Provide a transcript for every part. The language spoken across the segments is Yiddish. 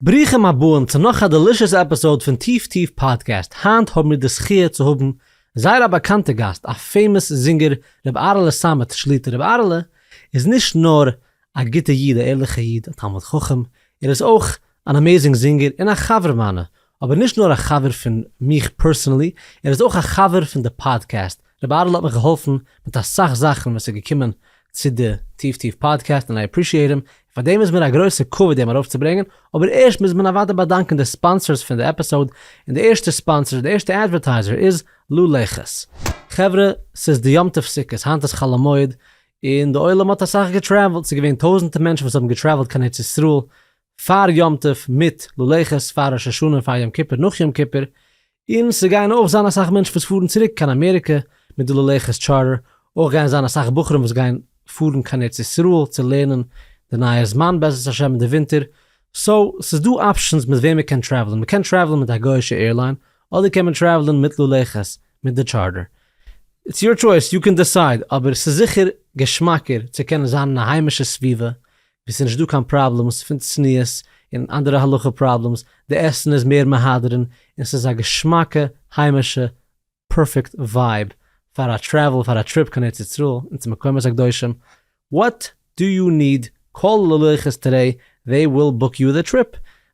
ברוכים הבאים צו נאך א דעלישעס עפיסאוד פון טיף טיף פאדקעסט, היינט האבן מיר די זכיה צו האבן זייער א באקאנטע גאסט א פעימאס זינגער ר' אהרעלע סאמעט שליטא, ר' אהרעלע איז נישט נאר א גוטע איד א ערליכע איד א תלמיד חכם ער איז אויך אן אמעזינג זינגער און א חבר מיינע אבער נישט נאר א חבר פון מיך פערסענעלי ער איז אויך א חבר פון די פאדקעסט ר' אהרן האט מיך געהאלפן מיט אסאך זאכן ווען ס'איז געקומען צו די טיף טיף פאדקעסט און איי עפרישיעט אים, און פאר דעם איז מיר א גרויסע כבוד אים ארויפצוברענגען, אבער ערשט מוז מען אוודאי באדאנקען די ספאנסערס פון די עפיסאוד, און די ערשטע ספאנסער, די ערשטע אדווערטייזער איז לו לעכעס. חברה, ס'איז די יום טוב סוכות, היינט איז חל המועד, און די עולם האט אסאך געטרעוולט, ס'איז געווען טויזענטער מענטשן וואס האבן געטרעוולט קיין ארץ ישראל פאר יום טוב, מיט לו לעכעס, פאר ראש השנה און פאר יום כיפור, נאך יום כיפור, און ס'גייען אויך זיין אסאך מענטשן וואס פארן צוריק קיין אמעריקע מיט די ללכת טשארטער, אויך גייען זיין אסאך בחורים וואס גייען פארן קיין ארץ ישראל צו לערנען די נייע זמן בעזרת השם אין די ווינטער, סאו ס'איז דא אפשענס מיט וועם מען קען טרעוולען, מען קען טרעוולען מיט א גוי'שע עירליין, אדער קען מען טרעוולען מיט ללכת מיט די טשארטער, איטס יור טשויס, יו קען דיסייד, אבער ס'איז זיכער געשמאקער צו קענען זיין אין א היימישע סביבה, ווי ס'איז נישט דא קיין פראבלעמס פון צניעות און אנדערע הלכה פראבלעמס, די עסן איז מער מהדרין, און ס'איז א געשמאקע היימישע פערפעקט ווייב פאר א טרעוול פאר א טריפ קיין ארץ ישראל און צו מקומות הקדושים, וואט דו יו ניד, קאל ללכת טודעי זיי וויל בוק יו די טריפ,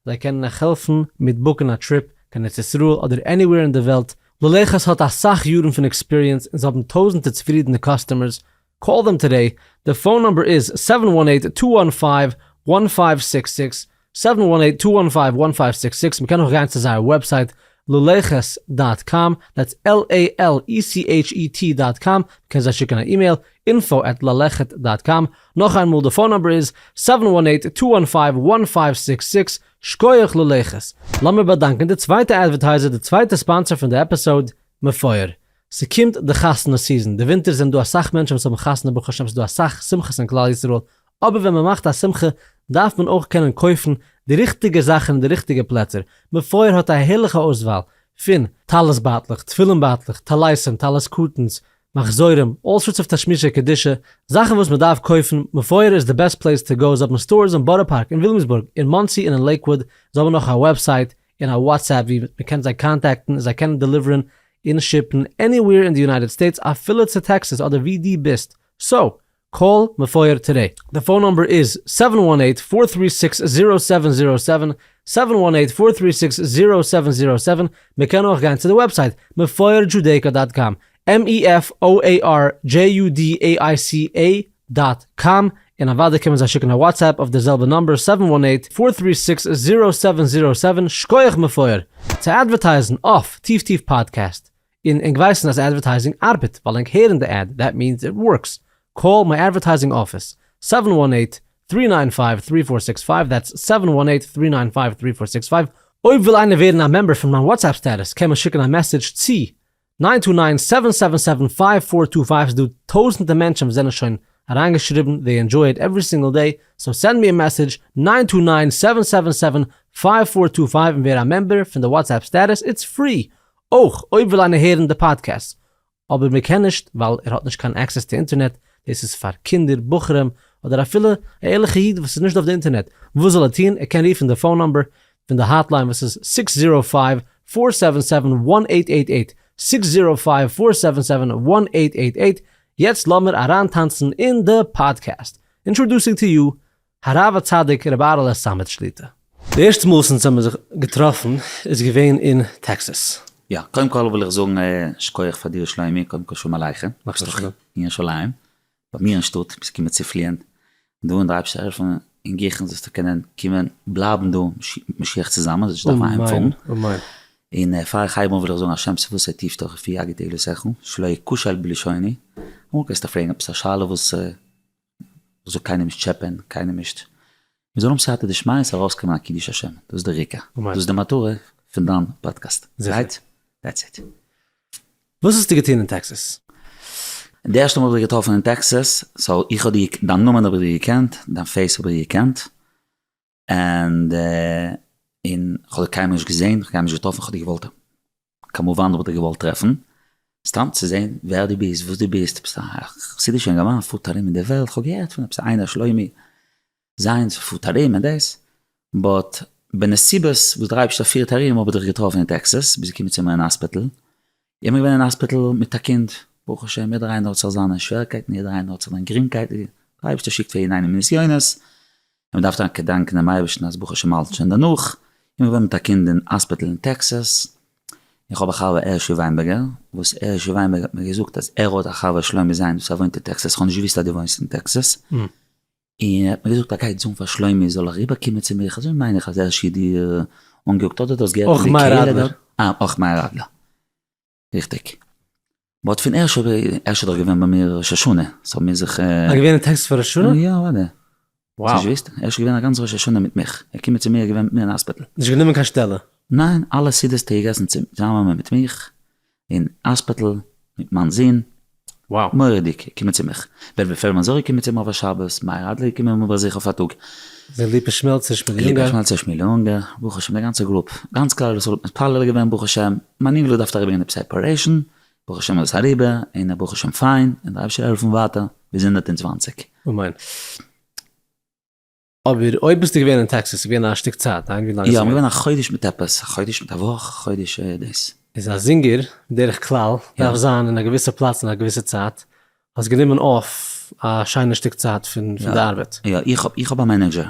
זיי קענען אייך העלפן מיט בוקן א טריפ קיין ארץ ישראל אדער עניווער אין די וועלט, ללכת האט אסאך יארן פון עקספיריענס און זיי האבן טויזענטער צופרידענע קאסטומערס קאל דעם טודעי, די פאון נומבער איז זיבן וואן עיט טו וואן פייוו וואן פייוו סיקס סיקס, זיבן וואן עיט טו וואן פייוו וואן פייוו סיקס סיקס, מען קען אויך גיין צו זייער וועבסייט ללכת דאט קאם, דעטס על עי על אי סי עיטש אי טי דאט קאם, מען קען זיי שיקן א אימעיל, אינפאו עט ללכת דאט קאם, נאך איינמאל די פאון נומבער איז זיבן וואן עיט טו וואן פייוו וואן פייוו סיקס סיקס, שקויעך ללכת. לאמיר באדאנקען די צווייטע אדווערטייזער די צווייטע ספאנסער פון די עפיסאוד, מפואר. ס'קומט די חתונה סיזען, די ווינטער זענען דא אסאך מענטשען וואס האבן חתונה ברוך השם ס'דא אסאך שמחות אין כלל ישראל, אבער ווען מען מאכט א שמחה דארף מען אויך קענען קויפן די ריכטיגע זאכן אין די ריכטיגע פלעצער, מפואר האט א הערליכע אויסוואל פון טלית בייטלעך, תפילין בייטלעך, טליתים, טלית קטן'ס, מחזורים, אלל סארטס אוו תשמישי קדושה, זאכן וואס מען דארף קויפן, מפואר איז די בעסט פלעיס טו גאו, זיי האבן סטארס אין בארא פארק, אין וויליאמסבורג, אין מאנסי און אין לעיקוואוד, זיי האבן אויך א וועבסייט, אין א וואטסעפפ ווי מען קען זיי קאנטעקטן און זיי קענען דעליווערן און שיפן עניוועיר אין די יונייטעד סטעיטס אפילו צו טעקסעס אדער ווי די ביסט, סאו קאל מפואר טודעי. די פאון נומבער איז זיבן וואן עיט פאר טרי סיקס זירא סעווען זירא סעווען, זיבן וואן עיט פאר טרי סיקס זירא סעווען זירא סעווען, מען קען אויך גיין צו די וועבסייט מפואר דזשודעיקא דאט קאם mefoarjudaica דאט קאם, און אוודאי קען מען זיי שיקן א וואטסעפפ אויף דער זעלבער נאמבער סעווען וואן עיט פאר טרי סיקס זירא סעווען זירא סעווען, שקויעך מפואר! צו אדווערטייזן אויף טיף טיף פאדקעסט, און ענק ווייסן אז אדווערטייזינג ארבעט ווייל ענק הערן די עד, דעט מיענס איט ווארקס, קאל מיי אדווערטייזינג אפיס, סעווען וואן עיט טרי ניין פייוו טרי פאר סיקס פייוו, דעטס סעווען וואן עיט טרי ניין פייוו טרי פאר סיקס פייוו. אויב וויל איינער ווערן א מעמבער פון מיין וואטסעפפ סטעטוס קען מען שיקן א מעסעדזש צו ניין טו ניין סעווען סעווען סעווען פייוו פאר טו פייוו ס'דא טויזענטע מענטשען וואס זענען שוין אריינגעשריבן זיי ענדזשוי איט עווערי סינגעל דעי סאו סענד מי א מעסעדזש ניין טו ניין סעווען סעווען סעווען פייוו פאר טו פייוו און ווער א מעמבער פון די וואטסעפפ סטעטוס איטס פרי אויך אויב וויל איינער הערן די פאדקעסט אבער מען קען נישט ווייל ער האט נישט קיין עקסעס צו אינטערנעט דאס איז פאר קינדער בחורים אדער אפילו א ערליכע איד וואס איז נישט אויף די אינטערנעט וואס זאל ער טון ער קען רופן די פאון נאמבער פון די האטליין וואס איז סיקס זירא פייוו פאר סעווען סעווען וואן עיט עיט עיט, סיקס זירא פייוו פאר סעווען סעווען וואן עיט עיט עיט, יעצט לאמיר אריינטאנצן אין די פאדקעסט, אינטראדוסינג טו יו הרב הצדיק רבי אהר'לע סאמעט שליטא. די ערשטע מאל זינט זיי האבן זיך געטראפן איז געווען אין טעקסעס. יא, קודם כל וויל איך זאגן שכוח פאר דיר שלומי, קודם כל שלום עליכם, איך בין אין ירושלים, ביי מיר אין שטאט ביסטו געקומען צו פליען דא און די אייבערשטער העלפן און גיכן זאלסטו קענען קומען בלייבן דא משיח צוזאמען זאלסט נישט דארפן אהיים פארן, און פאר איך הייב אן וויל איך זאגן השם ספסי תפתח ופי יגיד עלותיך שלא אכשל בלשוני, אמאל קענסטו פרעגן עפעס א שאלה וואס זאל קיינעם נישט טשעפען קיינעם נישט מיר זאלן האבן סייעתא דשמיא עס ארויסקומען א קידוש השם, דאס איז דער עיקר, דאס איז די מטרה פון דיין פאדקעסט, רייט? דעטס איט. וואס האסטו געטון אין טעקסעס? די ערשטע מאל האב איך דיך געטראפן אין טעקסעס, סאו איך האב דיר, דיין נאמען האב איך דיר געקענט, דיין פעיס האב איך געקענט, ענד, און כ'האב דיר קיינמאל נישט געזען, כ'האב קיינמאל נישט געטראפן, כ'האב דיר געוואלט כמובן וואלט איך געוואלט טרעפן, סתם צו זעהן ווער דו ביסט, וואס דו ביסט, ביסט א חסידישע אינגערמאן פארט ארום אין די וועלט, כ'האב געהערט פון עפעס איינער שלומי זיינס וואס פארט ארום און דאס, באט בנסיבות וואס דער אייבערשטער פירט ארום האב איך דיך געטראפן אין טעקסעס, ביסט געקומען צו מיר אין האספיטעל, איך בין געווען אין האספיטעל מיט א קינד, ברוך השם יעדער איינער האט זיך זיינע שוועריקייטן, יעדער איינער האט זיך זיין גרינגקייט, דער אייבערשטער שיקט פאר יעדן איינעם נסיונות, און מען דארף טאקע געדאנקען דעם אייבערשטן אז ברוך השם האלט שוין דערנאך, און מ'וואוינט מיט א קינד אין האספיטל אין טעקסאס, איך האב א חבר הערשי וויינבערגער, וואס הערשי וויינבערגער האט מיר געזאגט אז ער האט א חבר שלומי זיינס וואס ער וואוינט אין טעקסאס, איך האב נישט געוואוסט אז דו וואוינסט אין טעקסאס, און ער האט מיר געזאגט ער גייט זאגן פאר שלומי זאל אריבער קומען צו מיך, אזוי מיין איך אז הערשי האט דיר אנגעקוקט אדער דו האסט געהערט פון די קהלה דארט. אויך מאיר אדלער. ריכטיג. מ'האט פון ערשט אויב ערשט איז דאך געווען ביי מיר ראש השנה, סאו האט מען זיך. א געווען א טקס פאר ראש השנה? יא אוודאי. וואו? האסט נישט געוויסט? ערשט געווען א גאנץ ראש השנה מיט מיך, ער קומען צו מיר געווען מיט מיר אין האספיטל. נישט גענומען קיין שטעלע? ניין, אלע סעודות האט ער געגעסן צוזאמען מיט מיך, אין האספיטל, מיט מיין זון, מורא'דיג, קומען צו מיך. בער בער פערלמאן זאגער קומען צו מיר אויף א שבת, מאיר אדלער קומען מיר באזוך אויף א טאג. דער ליפא שמעלצער שמואל יונגער. ליפא שמעלצער שמואל יונגער, ברוך השם די גאנצע גרופ, גאנץ כלל ישראל האט מתפלל געווען ברוך השם, מיין אינגעל האט געדארפט אריבער גיין עפעס א אפערעישאן, ברוך השם איז עס אריבער, און ער ברוך השם פיין, און דער אייבערשטער העלפן ווייטער ביז הונדערט און צוואַנציק. אמן. אבער אויב ביסטו געווען אין טעקסאס איז געווען א שטיק צייט היינט ווי לאנג איז עס געווען? יא געווען א חודש מיט עפעס א חודש מיט א וואך חודש דאס. איז א זינגער בדרך כלל דארף זיין אין א געוויסע פלאץ אין א געוויסע צייט האסט גענומען אויף א שיינע שטיק צייט פון פון די ארבעט? יא איך האב איך האב א מענעדזשער.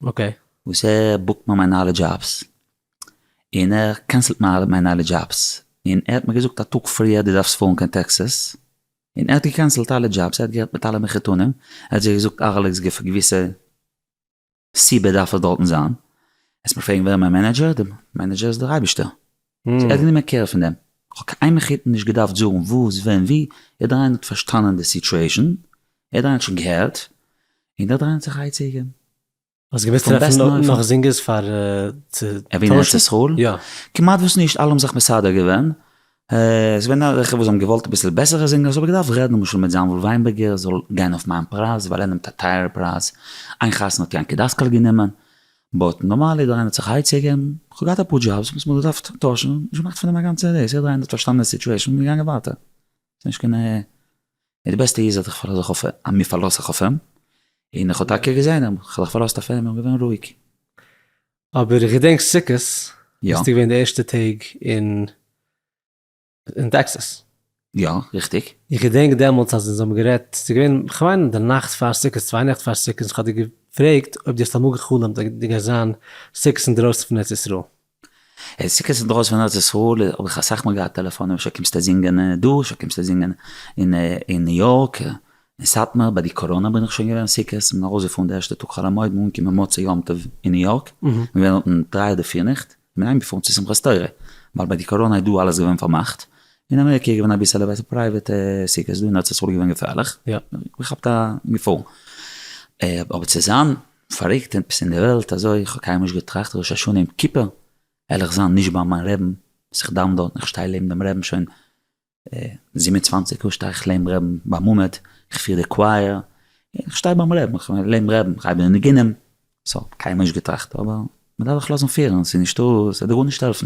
אקעי. וואס ער בוקט מיר מיין אלע דזשאבס און ער קענסלט מיין מיין אלע דזשאבס און ער האט מיר געזאגט א טאג פריער דו דארפסט פארן קיין טעקסעס און ער האט געקענסעלט אלע דזשאבס, ער האט גערעדט מיט אלע מחותנים, ער האט זיי געזאגט ארלעקס ג פאר געוויסע סיבה דארף ער דארטן זיין, העסט מיך פרעגן ווער איז מיין מענעדזשער, די מענעדזשער איז דער אייבישטער, סאו ער האט גענומען קער פון דעם, איך האב קיין איין מחותן נישט געדארפט זאגן וואס ווען ווי, יעדער איינער האט פארשטאנען די סיטועשאן, יעדער איינער האט שוין געהערט, און יעדער איינער האט זיך אייצוגעגעבן. האסט געוואוסט טרעפן נאך זינגערס פאר צו טוישן? ארץ ישראל? יא. כמעט וואס נישט, אלע האבן זיך מסדר געווען, ס'איז געווען עטליכע וואס האבן געוואלט אביסל בעסערע זינגערס, האב איך געדארפט רעדן למשל מיט זאנוויל וויינבערגער זאל גיין אויף מיין פרייז, ווייל ער נעמט א טייערע פרייז, איין חתונה האט יענקי דאסקאל גענומען, באט נארמאל איז דער איינער האט זיך היי צוגעגעבן, כ'האב געהאט אפאר דזשאבס וואס מ'האט געדארפט טוישן, נישט געמאכט פון דעם א גאנצע דעיס, יעדער איינער האט פארשטאנען די סיטועישן און געגאנגען ווייטער. ס'נישט קיין א. די בעסטע איז אז איך פארלאז זיך אויף א. מיר פארלאזט זיך אויף אים. און איך האב טאקע געזען אים. כ'האב זיך פארלאזט אויף אים און געווען רואיג. אבער איך געדענק סוכות ביסטו געווען די ערשטע טעג אין אין טעקסעס. יא, ריכטיג. איך געדענק דעמאלטס אז אונז האבן גערעדט, ס'איז געווען כ'מיין די נאכט פאר סוכות, צוויי נעכט פאר סוכות, און כ'האב דיר געפרעגט אויב דו האסט אמאל גע'חלומ'ט אז גייסט זיין סוכות אינדרויסן פון ארץ ישראל. איז סוכות אינדרויסן פון ארץ ישראל האב איך אסאך מאל געהאט טעלעפאנען אפשר קומסטו זינגען דא אפשר קומסטו זינגען אין ניו יארק אין סאטמאר ביי די קאראנא בין איך שוין געווען סוכות מ'איז ארויסגעפארן די ערשטע טאג חול המועד מ'איז אנגעקומען מוצאי יום טוב אין ניו יארק מ'געווען דארטן דריי אדער פיר נעכט מ'איז אהיימגעפארן צו שמחת תורה ווייל ביי די קאראנא איז דא אלעס געווען פארמאכט אין אמעריקע איז געווען אביסעלע בעסער פרייוועט סוכות דא אין ארץ ישראל איז געווען געפערליך מ'כאפט א געפאר אבער צו זיין פאריקט עפעס אין די וועלט אזוי כ'האב קיינמאל נישט געטראכט ראש השנה יום כיפור העל איך זיין נישט ביי מיין רעבן אז איך דאוון דארטן איך שטיי לעבן דעם רעבן שוין זיבן און צוואַנציק יאר שטיי איך לעבן רעבן ביי מעמד איך פיר די קווייער איך שטיי ביים רעבן איך לעבן רעבן איך הייב די ניגונים סא קיינמאל נישט געטראכט אבער מ'דארף זיך לאזן פירן ס'איז נישטא ס'וועט דיר גארנישט העלפן.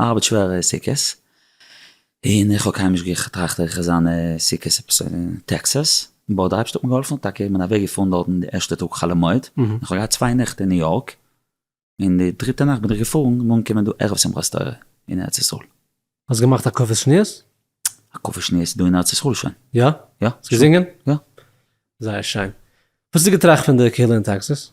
ארבעט שווער סוכות, און איך האב קיינמאל נישט געטראכט איך וועל זיין סוכות עפעס אין טעקסעס, באט די אייבערשטער האט מיר געהאלפן, טאקע איך בין אוועק געפארן דארטן די ערשטע טאג חול המועד, און כ'האב געהאט צוויי נעכט אין ניו יארק, און די דריטע נאכט בין איך געפארן און אנגעקומען דא ערב שמחת תורה אין ארץ ישראל. האסט געמאכט הקפות שניות? הקפות שניות דא אין ארץ ישראל שוין. יא? יא. האסט געזינגען? יא. זייער שיין. וואס האסטו געטראכט פון די קהילה אין טעקסעס?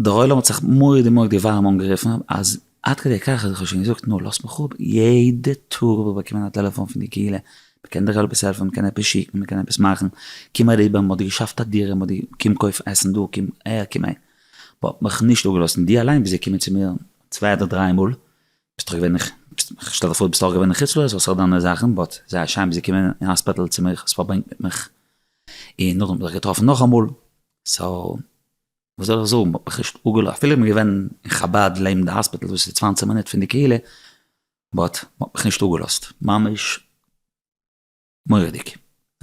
דער עולם האט זיך מאוד מאוד ווארעם אנגערופן, אז עד כדי כך אז איך האב שוין געזאגט נו לאז מיך אפ, יעדע טאג האב איך באקומען א טעלעפאן פון די קהילה, מ'קען דיך עפעס העלפן? מ'קען עפעס שיקן? מ'קען עפעס מאכן? קום אריבער מ'האט דיר געשאפט א דירה, מ'האט דיר, קום קויף עסן דא, קום אהער, קום אהין. מ'האט מיך נישט אפגעלאזט, און דו אליין ביסט געקומען צו מיר צוויי אדער דריי מאל, ביסט דאך געווען, איך שטעל זיך פאר דו ביסט אויך געווען אין חוץ לארץ וואס איך האב דיינע זאכן, באט זייער שיין ביסט געקומען אין האספיטעל צו מיך, האסט פארברענגט מיט מיך, און נאכדעם האב איך דיך געטראפן נאכאמאל, סאו וואס זאל איך זאגן מ'האט מיך נישט אפגעלא אפילו איז מען געווען אין חבד לעבן די האספיטעל וואס איז צוואַנציק מינוט פון די קהילה באט מ'האט מיך נישט אפגעלאזט ממש מורא'דיג.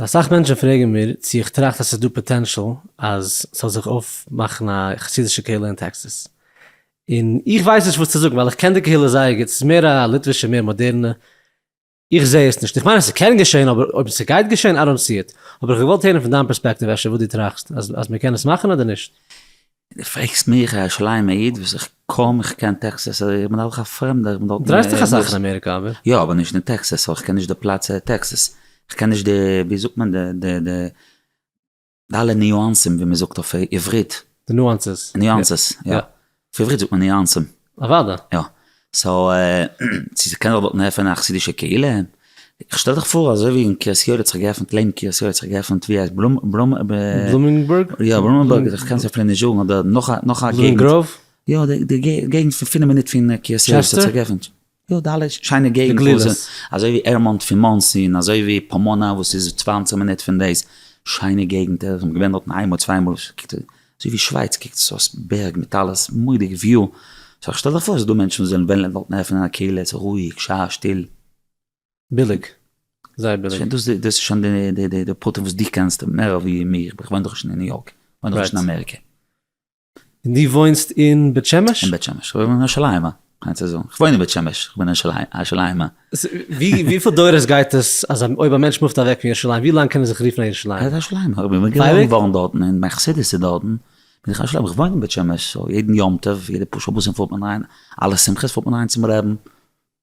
אסאך מענטשן פרעגן מיר צו איך טראכט אז ס'איז דא פאטענשאל אז ס'זאל זיך אויפמאכן א חסידישע קהילה אין טעקסעס, און איך ווייס נישט וואס צו זאגן ווייל איך קען די קהילה זייער גוט, ס'איז מער א ליטווישע מער מאדערנע, איך זעה עס נישט, איך מיין עס קען געשען אבער אויב ס'גייט געשען איי דאנט סי איט, האב איך געוואלט הערן פון דיין פערספעקטיוו אפשר וואס דו טראכסט אז מען קען עס מאכן אדער נישט. דו פרעגסט מיך א שליימע איד וואס איך קוים איך קען טעקסעס אדער איך בין אויך א פרעמדער איך בין דארטן. דרייסט דיך אסאך אין אמעריקע אבער. יא אבער נישט אין טעקסעס ווייל איך קען נישט די פלאץ טעקסעס איך קען נישט די ווי זאגט מען די די די. די אלע ניואנסים ווי מען זאגט אויף עברית. די נואנסעס. נואנסעס יא. אויף עברית זאגט מען ניואנסים. אוודאי. יא. סאו צו ס'קען זיך דארט עפענען א חסידישע קהילה. איך שטעל דיך פאר אזוי ווי אין קרית יואל האט זיך געעפענט לענ קרית יואל האט זיך געעפענט ווי הייסט בלומ בלומ ב. בלומינגבורג? יא בלומינגבורג איך קען עס אפילו נישט זאגן אבער נאך א נאך א געגנט. בלומינגראוו? יא די געגנט פון פינעף מינוט פון קרית יואל האט זיך געעפענט. טשעסטער? יא די אלע שיינע געגנט וואס איז אזוי ווי עירמאנט פון מאנסי און אזוי ווי פאמאנא וואס איז צוויי און צוואנציג מינוט פון דאס, שיינע געגנטער איך בין געווען דארטן איינמאל צוויי מאל, קוקט אזוי ווי שווייץ קוקט עס אויס בערג מיט אלעס מוראדיג וויו, סא שטעל דיך פאר ס'איז דא מענטשן וואס וועלן וועלן דארטן עפענען א קהילה ס'איז רואיג שיין שטיל. ביליג, זייער ביליג. דאס איז שוין די פרטים וואס דו קענסט מער ווי מיר, איך וואוין דאך נישט אין ניו יארק, איך וואוין דאך נישט אין אמעריקע. און דו וואוינסט אין בית שמש? אין בית שמש, כ'וואוין אין ירושלים, אה, כ'מיין צו זאגן, כ'וואוין אין בית שמש, כ'בין אין ירושלים, אה. ווי, וויפיל דורות גייט עס, אז אויב א מענטש מופט אוועק פון ירושלים, ווי לאנג קען ער זיך רופן א ירושלימער? א ירושלימער, איך בין געבוירן געווארן דארטן, און מיין חסידות איז דארטן, בין איך א ירושלימער, כ'וואוין אין בית שמש, סאו יעדן יום טוב, יעדע פאר שבת'ן פארט מען אריין, אלע שמחות פארט מען אריין צום רעבן.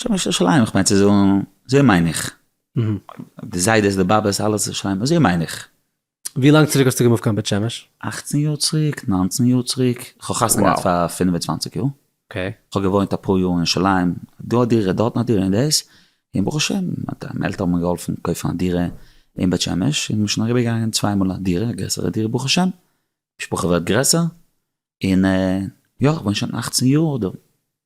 שם איז שלימ איך מיין צו זאגן אזוי מיין איך. די זיידעס די באבעס אלעס איז שלימ אזוי מיין איך. ווי לאנג צוריק האסטו געמופט קיין בית שמש? אכצן יאר צוריק, נײַנצן יאר צוריק, כ'האב חתונה געהאט פאר פֿינף און צוואַנציק יאר, כ'האב געוואוינט אפאר יאר אין שלימ, דא א דירה דארטן א דירה און דאס, און ברוך השם מיינע עלטערן האבן מיר געהאלפן קויפן א דירה אין בית שמש, און מ'איז שוין אריבער געגאנגען צוויי מאל א דירה, א גרעסערע דירה ברוך השם, משפחה ווערט גרעסער, און יא כ'וואוין שוין אכצן יאר דא.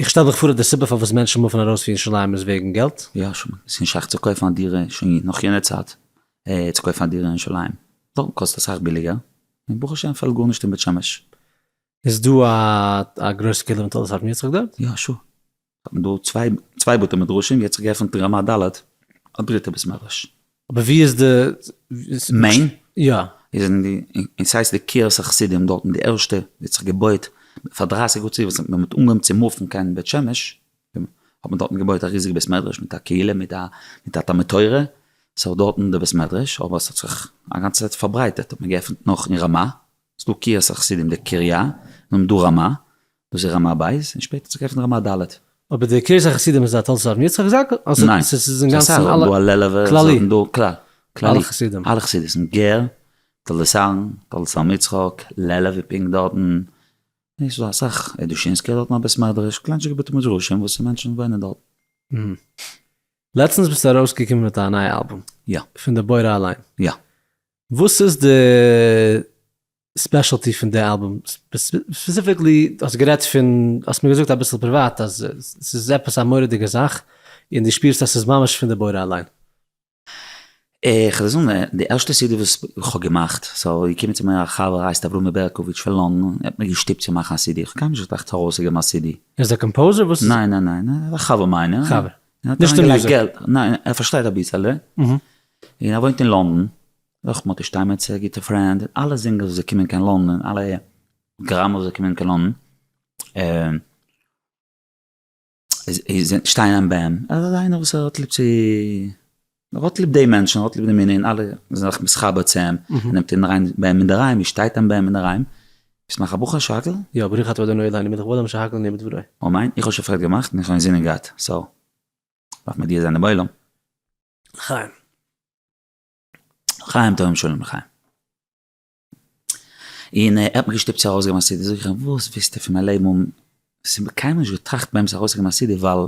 איך שטעל מיך פאר אז די סיבה פארוואס מענטשן מופן ארויס פון ירושלים איז וועגן געלט. יא שוין, עס איז נישט שייך צו קויפן א דירה שוין נאך יענע צייט צו קויפן א דירה אין ירושלים, דארטן קאסט אסאך ביליגער, און ברוך השם פעלט גארנישט אין בית שמש. איז דא א גרויסע קהילה פון תולדות אהרן יצחק דארט? יא שור, האט מען דא צוויי בתי מדרשים, יעצט האט געעפנט אין רמת ד' א דריטע בית מדרש. אבער ווי איז די מעין? יא. איז אין די, און סאיז די קרית החסידים דארטן די ערשטע ווי האט זיך געבויט פאר דרייסיג יאר צוריק וואס ווען מען האט אנגעהויבן צו מופן קיין בית שמש האט מען דארטן געבויט א ריזיגע בית מדרש מיט א קהילה מיט א מיט א תלמוד תורה סאו דארטן די בית מדרש אבער עס האט זיך א גאנצע צייט פארברייטערט האט מען געעפנט נאך אין רמא ס'דא קרית החסידים די קריה און דא רמא דאס איז רמה ב' און שפעטער צו קויפן רמה ד'. אבער די קרית החסידים איז א תולדות אבן יצחק זצוקל? ניין, ס'איז אסאך, און דא הלל'עווע, כללי, און דא כלל, כללי, אלע חסידות'ן, גער, תולדות אהרן, תולדות אבן יצחק, לעלוב איז פונקט דארטן, נישט ס'דא אסאך, און דושינסקיא האט דארטן א בית מדרש, קליינטשיגע בתי מדרשים וואס מענטשן וואוינען דארט. לעצטנס ביסטו ארויסגעקומען מיט א נייע אלבום. יא. פון די בורא אליין. יא. וואס איז די ספעשעלטי פון די אלבום, ספעסיפיקלי האסט גערעדט פון, האסט מיר געזאגט אביסל פריוואט אז ס'איז עפעס א מורא'דיגע זאך, און דו שפירסט אז ס'איז ממש פון די בורא אליין. איך וועל זאגן, די ערשטע סידי וואס איך האב געמאכט, ס'איז געקומען צו מיר א חבר הייסט אברומי בערקאוויטש פון לונדון, ער האט מיר געשטופט צו מאכן א סידי, איך האב קיינמאל נישט געטראכט ארויסצוגעבן א סידי. ער איז א קאמפאוזער? וואס איז ער? ניין ניין ניין, ער איז א חבר מיינער. חבר. נישט אין מוזיק. ניין, ער פארשטייט אביסעלע, און ער וואוינט אין לונדון, אויך מאטי שטיינמעצער גוטע פרענד, אלע זינגערס וואס זיי קומען קיין לונדון, אלע גראמערס וואס זיי קומען קיין לונדון, שטיין אין בען, ער איז איינער וואס ער האט ליב צו, ער האט ליב די מענטשן, ער האט ליב די מנין, אלע זענען זיך מתחבר צו אים, ער נעמט אים אריין בען אינדערהיים, ער שטייט אין בען אינדערהיים, ביסט מאך א בחור שרהקל? יא, ברוך אתה אדוני אלהינו מלך העולם שהכל נהיה בדברו. אמן, איך האב שוין פארקערט געמאכט און איך האב אינזינען געהאט, סאו, דארף מען מודיע זיין דעם עולם. לחיים. חיים טובים שלום לחיים. און ער האט מיך געשטופט צו ארויס געבן א סידי, זאג איך אים וואס ווילסטו פון מיין לעבן האבן, עס איז קיינמאל נישט געטראכט באמת ארויס צו געבן א סידי ווייל,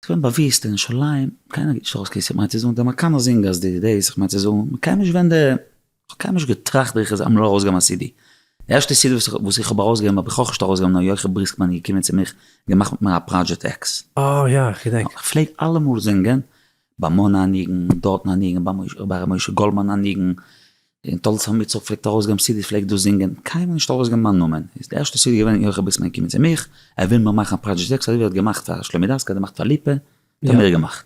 עס געווען באוויסט אין ירושלים, קיינער גיבט נישט ארויס קיין סידי, כ'מיין צו זאגן דער מקאנא זינגער אז די דעיס, כ'מיין צו זאגן, כ'קען נישט ווען די. כ'האב קיינמאל נישט געטראכט ווען איך זאל אמאל ארויסגעבן א סידי. די ערשטע סידי וואס איך האב ארויסגעגעבן האב איך אויך נישט ארויסגעגעבן נאר יוחי בריסקמאן איז געקומען צו מיך און געמאכט מיט מיר א פראדזשעט עקס. אה יא איך געדענק. איך פלעג אלעמאל זינגען, ביי מאנע א ניגון, דארטן א ניגון, ביי ר' משה גאלדמאן א ניגון, און טאלס עמיצער פלעגט ארויסגעבן סידיס פלעג איך דאס זינגען, קיינמאל נישט ארויסגעבן מיין נאמען. איז די ערשטע סידי געווען יוחי בריסקמאן איז געקומען צו מיך, ער וויל מיר מאכן א פראדזשעט עקס אזוי ווי ער האט געמאכט פאר שלומי דסקל האט ער געמאכט פאר ליפא, האט ער מיר געמאכט.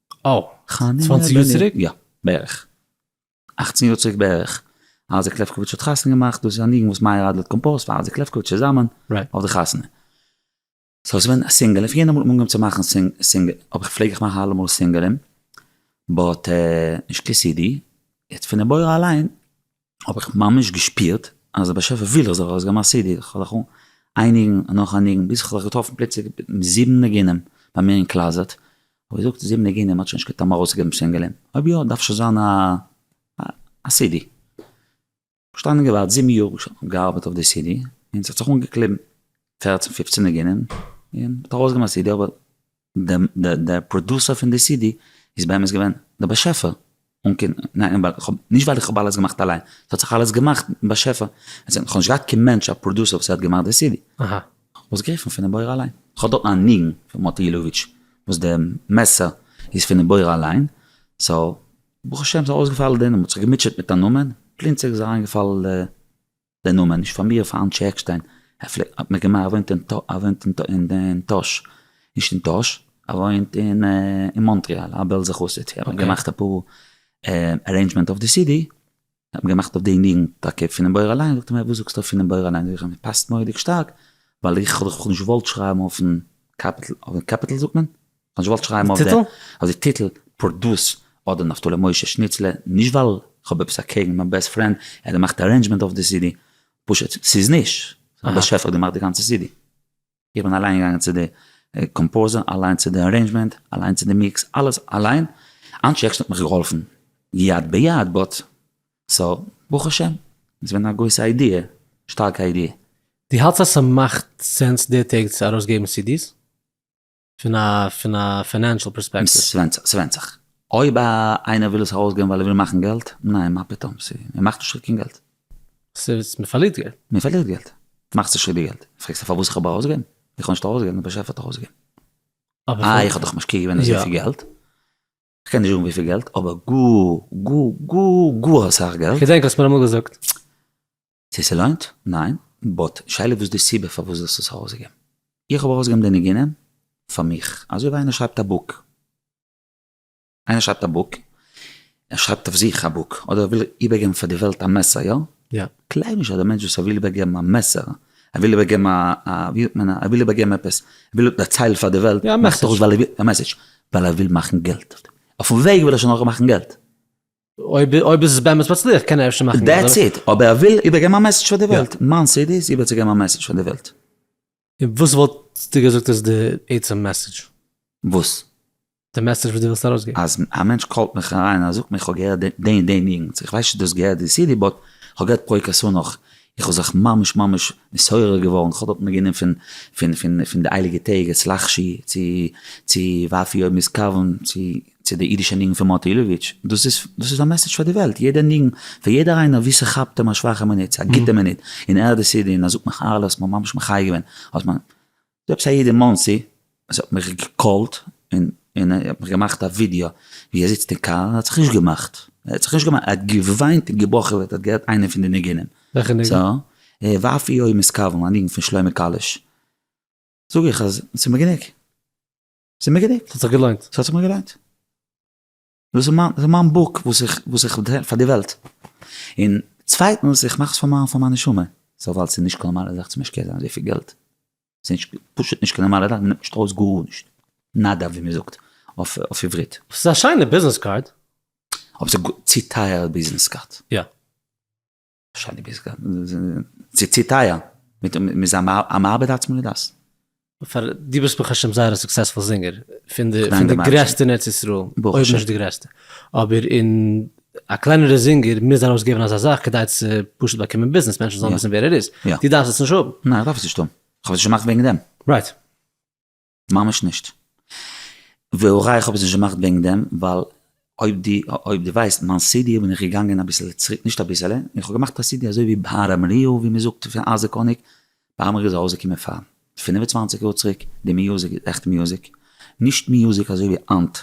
אה, צוואנציג יאר צוריק, יא, בערך, אכצן יאר צוריק בערך, אייזיק לעפקאוויטש האט חתונה געמאכט, דאס איז א ניגון וואס מאיר אדלער האט קאמפאוזט פאר אייזיק לעפקאוויטש צוזאמען, אויף די חתונה. סאו עס איז געווען א סינגעל, און פון יענע מאל האט מען אנגעהויבן צו מאכן סינגעל, אבער איך פלעג איך מאכן אלע מאל סינגעלען, באט נישט קיין סידי, יעצט פון די בורא אליין, האב איך ממש געשפירט אז דער באשעפער וויל איך זאל ארויס געבן א סידי, איך האב זיך איין ניגון נאך א ניגון, ביז איך האב זיך געטראפן פלוצלינג מיט זיבן ניגונים ביי מיר אין קלאזעט, האב איך געזאגט זיבן ניגונים האט שוין נישט קיין טעם ארויס צו געבן סינגעלען, אויב יא דארף שוין זיין א סידי, געשטאנען און געווארט זיבן יאר געארבעט אויף די סידי, און ס'האט זיך אנגעקליבן פערצן פופצן ניגונים, און מ'האט ארויס געבן א סידי אבער. דער פראדוסער פון די סידי איז באמת געווען דער באשעפער, נישט ווייל איך האב אלעס געמאכט אליין, עס האט זיך אלעס געמאכט דער באשעפער, איך האב נישט געהאט קיין מענטש א פראדוסער וואס האט געמאכט די סידי, איך האב עס גערופן פונעם בורא אליין, איך האב דארטן א ניגון פון מאטי אילאוויטש וואס די מעסער איז פונעם בורא אליין, סאו ברוך השם ס'איז אויסגעפאלן, מען האט זיך געמוטשעט מיט א נאמען, פלינצעג איז אריינגעפאלן די דער נאמען נישט פאר מיר, פאר אנשי עקשטיין, ער פלעגט, האט מען געמאכט, ער וואוינט אין טא, ער וואוינט אין טא, אין טאהש, נישט אין טאהש, ער וואוינט אין מאנטריאל, א בעלזע חסיד, האט מען געמאכט אפאר ארעינדזשמענט אויף די סידי, האט מען געמאכט אויף די ניגון טאקע פונעם בור אליין, זאגט ער מיר וואס זאגסטו אויף פונעם בור אליין, זאג איך אים עס פאסט מורא'דיג שטארק, ווייל איך האב דאך נישט געוואלט שרייבן אויפן קאפיטל, אויפן קעפיטל זאגט מען? איך וואלט שרייבן אויף די אויף די טיטל פרדס אדער נפתלי משה שניצלער, נישט ווייל כ'האב עפעס אקעגן מיין בעסט פרענד, ער האט געמאכט ארעינדזשמענט אויף די סידי, פשוט ס'איז נישט א באשעפער האט געמאכט די גאנצע סידי, איך בין אליין געגאנגען צו די קאמפאוזער, אליין צו די ארעינדזשמענט, אליין צו די מיקס, אלעס אליין, אנטשי עקשטיין האט מיך געהאלפן יד ביד, באט סאו ברוך השם, איז געווען א גרויסע איידיע, שטארקע איידיע. די האלטסט אז ס'מאכט סענס די טעג צו ארויסגעבן סידי'ס? פון א פון א פיינענשעל פערספעקטיוו. ס'ווענדט זיך. אויב איינער וויל עס ארויסגעבן ווייל ער וויל מאכן געלט, ניין מה פתאום, ער מאכט נישט קיין געלט. ס'איז, מ'פארלירט געלט. מ'פארלירט געלט. מאכסט נישט די געלט. פרעגסט פארוואס איך האב ארויסגעגעבן? איך האב נישט ארויסגעגעבן, דער באשעפער האט ארויסגעגעבן. אה, איך האב דאך משקיע געווען אזויפיל געלט. כ'קען נישט זאגן וויפיל געלט, אבער גאר גאר גאר גאר אסאך געלט. כ'געדענק האסט מיר אמאל געזאגט. צו ס'לוינט? ניין, באט שאלה וואס די סיבה פארוואס זאלסט עס ארויסגעבן? איך האב ארויסגעבן די ניגונים פאר מיך, אזוי ווי איינער שרייבט א בוק, איינער שרייבט א בוק, ער שרייבט אויף זיך א בוק, אדער ער וויל איבערגעבן פאר די וועלט א מסר, יא? יא. כ'גלייב נישט אז דער מענטש וואס ער וויל איבערגעבן א מעסער, ער וויל איבערגעבן א א ווי זאגט מען, ער וויל איבערגעבן עפעס, ער וויל דערציילן פאר די וועלט, יא א מעסעדזש, א מעסעדזש, ווייל ער וויל מאכן געלט, אויפן וועג וויל ער שוין אויך מאכן געלט. אויב אויב איז עס באמת מצליח קען ער אפשר מאכן געלט. דעטס איט, אבער ער וויל איבערגעבן א מעסעדזש פאר די וועלט, מיין סידי איז איבערצוגעבן א מעסעדזש פאר די וועלט. און וואס וואלסטו געזאגט איז די עצם מעסעדזש? וואס? די מעסעדזש וואס דו ווילסט ארויסגעבן. אז א מענטש קאלט מיך אריין און ער זאגט מיר איך האב געהערט די און די ניגונס, איך ווייס נישט צו דו האסט געהערט די סידי באט איך האב געהערט פרוי קאסאנאך, איך האב זיך ממש ממש נתעורר געווארן, איך האב דארט ניגונים פון פון פון פון די הייליגע טעג, אצל אחשי צו צו ואפי' אויב מ'איז קרבן צו צו די אידישע ניגון פון מאטי אילאוויטש, דאס איז דאס איז א מעסעדזש פאר די וועלט, יעדע ניגון פון יעדער איינער ווי ס'כאפט אים א שוואכע מינוט, צו א גוטע מינוט, אין ער די סידי אין אזוק מיך אהרלע האסט מיר ממש מחיה געווען, האסט מיר, ס'דא עפעס א איד אין מאנסי וואס האט מיך געקאלט און און ער האט מיך געמאכט א ווידיא ווי ער זיצט אין קאר, ער האט זיך נישט געמאכט, ער האט זיך נישט געמאכט, ער האט געוויינט און געבוכעט ווען ער האט געהערט איינע פון די ניגונים. וועלכע ניגון? סא, ואפי' יום איז קרבן, א ניגון פון שלמה קאליש, זאג איך אז ס'איז מיר גענוג. ס'איז מיר גענוג, ס'האט זיך געלוינט, ס'האט זיך מיר געלוינט. דאס איז מיין, דאס מיין בוק וואס איך, וואס איך טוה פאר די וועלט. און צווייטנס, איך מאך עס פאר מיין, פאר מיין נשמה. סא ווייל ס'איז נישט קיין נארמאלע זאך צו משקיע זיין אזויפיל געלט. ס'איז נישט, פשוט נישט קיין נארמאלע זאך, מ'נעמט נישט ארויס גארנישט. נאדא ווי מ'זאגט אויף עברית. ס'איז א שיינע ביזנעס קארד. אבער ס'איז צו טייער ביזנעס קארד. יא. שדי ביז גאר צו טייער מיט מ'איז א מאבד עצמו לדעת. פאר דו ביסט ברוך השם זייער א סוקסעספול זינגער, פון די פון די גרעסטע אין ארץ ישראל, אויב נישט די גרעסטע, אבער אין א קלענערע זינגער מוז ארויס געבן אזא זאך כדי צו פשוט באקומען ביזנעס מענטשן זאלן וויסן ווער ער איז, דו דארפסט עס נישט האבן. ניין איך דארף עס נישט האבן, כ'האב עס נישט געמאכט וועגן דעם. רייט. ממש נישט. והא ראי' איך האב עס נישט געמאכט וועגן דעם, ווייל אויב די אויב די ווייסט מיין סידי בין איך געגאנגען אביסל צוריק נישט אביסעלע איך האב געמאכט א סידי אזוי ווי בהר אמריהו ווי מען זאגט פון אייזיק האניג, בהר אמריהו איז ארויסגעקומען פאר פֿינף און צוואַנציק יאר צוריק די מיוזיק איז עכט מיוזיק נישט מיוזיק אזוי ווי היינט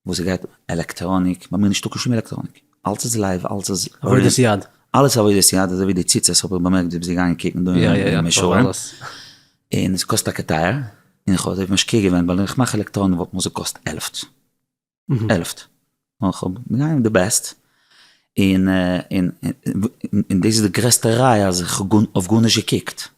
וואס ס'גייט עלעקטראניק, ביי מיר נישטא קיין שום עלעקטראניק, אלץ איז לייוו, אלץ איז עבודת יד, אלעס עבודת יד, אזוי ווי די ציצית האב איך באמערקט זיי ביזי געגאנגען קוקן דא אין מישור, און עס קאסט טאקע טייער, און איך האב אזוי משקיע געווען, ווייל ווען איך מאך עלעקטראניק וואלט מיר עס געקאסט עלעפט, עלעפט, נאר איך האב גענומען די בעסט, און און און דאס איז די גרעסטע ראיה אז איך האב גארנישט געקוקט,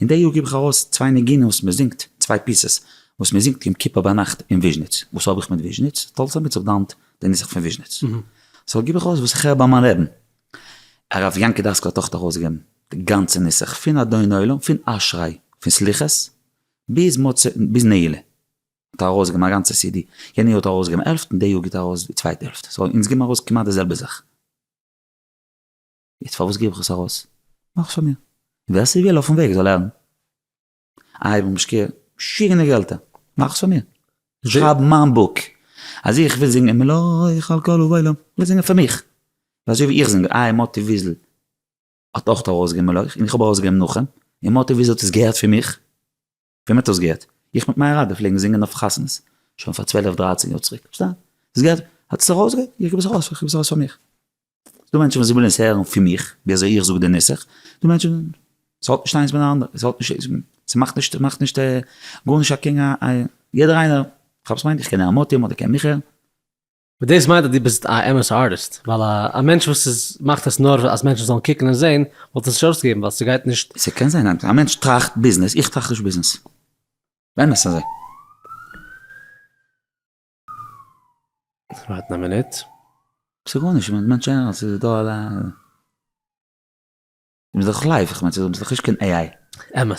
אין די יאר גיב איך ארויס צוויי ניגונים וואס מען זינגט, צוויי פיסעס וואס מען זינגט יום כיפור ביינאכט אין וויזשניץ, וואס האב איך מיט וויזשניץ? טאלס עמיץ האט דאונט די נוסח פון וויזשניץ, סאו גיב איך ארויס וואס איך הער ביי מיין רעבין. הרב יענקי דאסקאל האט אויך ארויסגעגעבן די גאנצע נוסח פון אדון עולם, פון אשרי, פון סליחות, ביז מוצא ביז נעילה האט ער ארויסגעגעבן א גאנצע סידי, יענע יאר האט ער ארויסגעגעבן העלפט, אין די יאר גיט ער ארויס די צווייטע העלפט, סאו אונז גיבן ארויס כמעט די זעלבע זאך. יעצט פארוואס גיב איך עס ארויס? מאך עס פאר מיר. און ווער ס'וויל אויפן וועג זאל לערנען. איי ווען משקיע שיגענע געלטער. מאך עס פאר מיר. איך שרייב מיין בוק. אז איך וויל זינגען מלא איך על כל ובעולם. איך וויל זינגען פאר מיך. און אזוי ווי איך זינג איי מאטי וויזל האט אויך ארויסגעגעבן מלא איך און איך האב ארויסגעגעבן נחום. און מאטי וויזל האט עס געהערט פון מיך. ווען מען האט דאס געהערט? איך מיט מיין רבי פלעגן זינגען אויף חתונות, שוין פאר צוועלף דרייצן יאר צוריק, פארשטייט? דאס געהערט? האט עס ארויס געהערט? איך גיב עס ארויס, איך גיב עס ארויס פאר מיך. ס'דא מענטשן וואס ווילן עס הערן פון מיך, ווי אזוי איך זאג די נוסח, דא מענטשן, ס'האט נישט איינס מיט די אנדערע, ס'האט נישט, ס'מאכט נישט, מאכט נישט גארנישט א קעגן א, יעדער איינער, כ'האב עס מיינט, איך קען א מתים אדער קען מיכאל. וואס דאס מיינט אז דו ביסט א אמת'ע ארטיסט, ווייל א א מענטש וואס איז מאכט עס נאר אז מענטשן זאלן קוקן און זען, וואלט עס נישט ארויסגעגעבן ווייל ס'גייט נישט. ס'קען זיין אז א מענטש טראכט ביזנעס, איך טראכט נישט ביזנעס. באמת אזוי. ווארטן א מינוט. ס'גארנישט, מען מיינט שוין אז ס'איז דא א. מ'איז דאך לייוו, כ'מיין ס'איז דאך נישט קיין AI. אמת.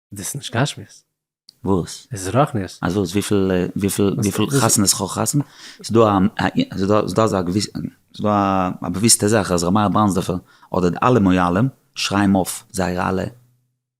דאס איז נישט גשמיות. וואס? עס איז רוחניות. אז וואס? וויפיל וויפיל וויפיל חתונות כ'האב חתונה? ס'איז דא א ס'איז דא ס'איז דא אזא געוויסע ס'איז דא א באוויסטע זאך אז ר' מאיר בראנדסדארפער אדער די אלע מוהלים שרייבן אויף זייערע אלע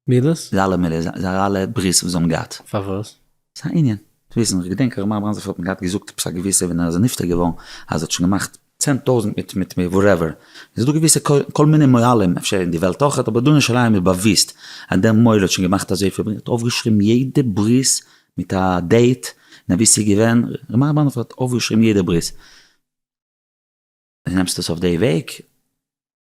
מידות? זייערע אלע מידות זייערע אלע ברית'ס וואס זיי האבן געהאט. פארוואס? ס'איז א ענין צו וויסן, איך געדענק הרב מאיר בראנדזער פלעגט מיר געהאט געזאגט עפעס א געוויסע ווען ער איז נפטר געווארן אז ער האט שוין געמאכט צען טויזענט מיט מיט וואטעווער, עס איז דא געוויסע כל מיני מוהלים אפשר אין די וועלט אויך אבער דא אין ירושלים איז באוויסט אז דער מוהל האט שוין געמאכט אזויפיל און ער האט אויפגעשריבן יעדע ברית מיט א דעיט און אווי ס'איז געווען, ר' מאיר בראנדער האט אויפגעשריבן יעדע ברית. נעמסט עס אויף די וועג?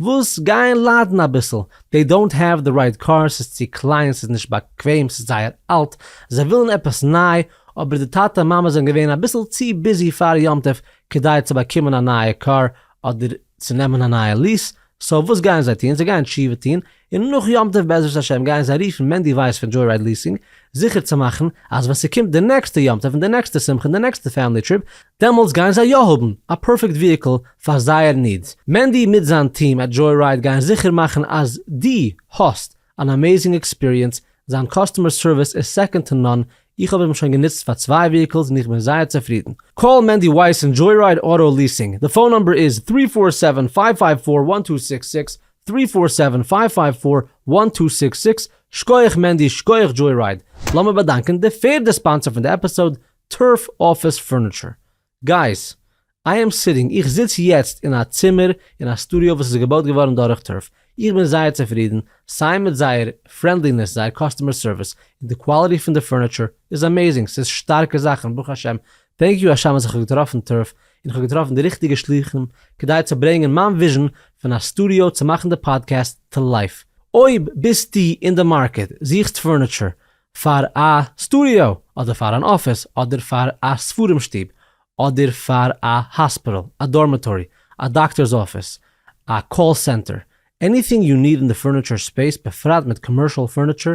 וואס גייען ליידן אביסל, דעי דאונט העוו די רייט קאר, ס'איז צו קליין, ס'איז נישט באקוועם, ס'איז זייער אלט, זיי ווילן עפעס ניי, אבער די טאטע מאמע זענען געווען אביסל צו ביזי פאר יום טוב כדי צו באקומען א נייע קאר אדער צו נעמען א נייע ליעס, סאו וואס גייען זיי טון, זיי גייען תשובה טון און נאך יום טוב בעזרת השם גייען זיי רופן מענדי ווייס פון דזשוי-רייד ליסינג זיכער צו מאכן אז ווען ס'קומט די נעקסטע יום טוב און די נעקסטע שמחה און די נעקסטע פעמילי טריפ דעמאלטס גייען זיי יא האבן א פערפעקט וויהיקל פאר זייער נידס. מענדי מיט זיין טיעם עט דזשוי-רייד גייען זיכער מאכן אז דו האסט אן עמעיזינג עקספיריענס, זיין קאסטומער סערוויס איז סעקאנד טו נאן, איך האב אים שוין גענוצט פאר צוויי וויהיקלס און איך בין זייער צופרידן. קאל מענדי ווייס פון דזשוי-רייד אוטא ליסינג, די פאון נומבער איז, טרי פאר סעווען פייוו פייוו פאר וואן טו סיקס סיקס, טרי פאר סעווען פייוו פייוו פאר וואן טו סיקס סיקס שקויעך מענדי שקויעך דזשוי רייד לאמיר באדאנקען די פערדע ספאנסער פון די עפיסאוד טורף אפיס פורניטשער גייס איי עם סיטינג איך זיץ יעצט אין א צימער אין א סטודיאו וואס איז געבויט געווארן דורך טורף איך בין זייער צופרידן סיי מיט זייער פרענדלינעס זייער קאסטומער סערוויס און די קוואליטי פון די פורניטשער איז עמעזינג ס'איז שטארקע זאכן ברוך השם טענק יו השם אז איך האב געטראפן טרף און איך האב געטראפן די ריכטיגע שלוחים כדי צו ברענגען מיין וויזשן פון א סטודיאו צו מאכן די פאדקעסט טו לייף. אויב ביסטו אין די מארקעט, זוכסט פורניטשער פאר א סטודיאו אדער פאר אן אפיס אדער פאר א ספרים שטוב אדער פאר א האספיטעל, א דארמעטארי, א דאקטארס אפיס, א קאל סענטער, עניטינג יו ניד אין די פורניטשער ספעיס בפרט מיט קאמערשעל פורניטשער,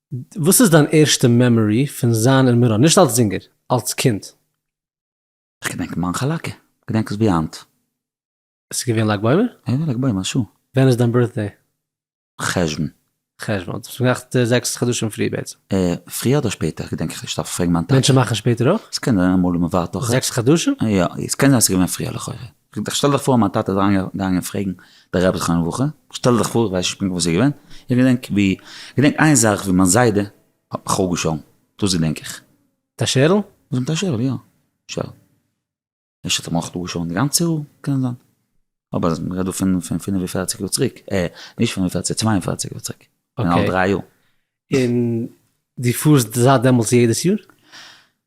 וואס איז דיין ערשטע מעמארי פון זיין אין מירון? נישט אלס זינגער, אלס קינד. כ'געדענק מיין חאלאקע, כ'געדענק עס ווי היינט. עס איז געווען לג בעומר? יא יא לג בעומר שו. ווען איז דיין בירטדעי? חשוון. חשוון, האט זיך געמאכט זעקס חדשים פריער בעצם. פריער אדער שפעטער געדענק איך נישט דארף איך פרעגן מיין טאטע. מענטשן מאכן שפעטער אויך? ס'קען זיין אמאל אין מ'ווארט אויך. זעקס חדשים? יא, ס'קען זיין ס'איז געווען פריער לכאורה. זאגט איך שטעל דיך פאר מיין טאטע איז אריינגעגאנגען פרעגן די רבי זכרונו לברכה, שטעל דיך פאר, איך ווייס נישט פונקט וואס איז געווען, איך געדענק ווי, איך געדענק איין זאך ווי מיין זיידע האט מיך אפגעשאלן, דאס געדענק איך. מיט א שערל? וואס מיט א שערל? יא, שערל. אפשר האט ער מיך אפגעשאלן די גאנצע האר, קען זיין. אבער אז מ'רעדט דא פון פון פינף און פערציג יאר צוריק, אה, נישט פינף און פערציג, צוויי און פערציג יאר צוריק, כ'בין אלט דריי יאר. און דו פארסט זייט דעמאלטס יעדעס יאר?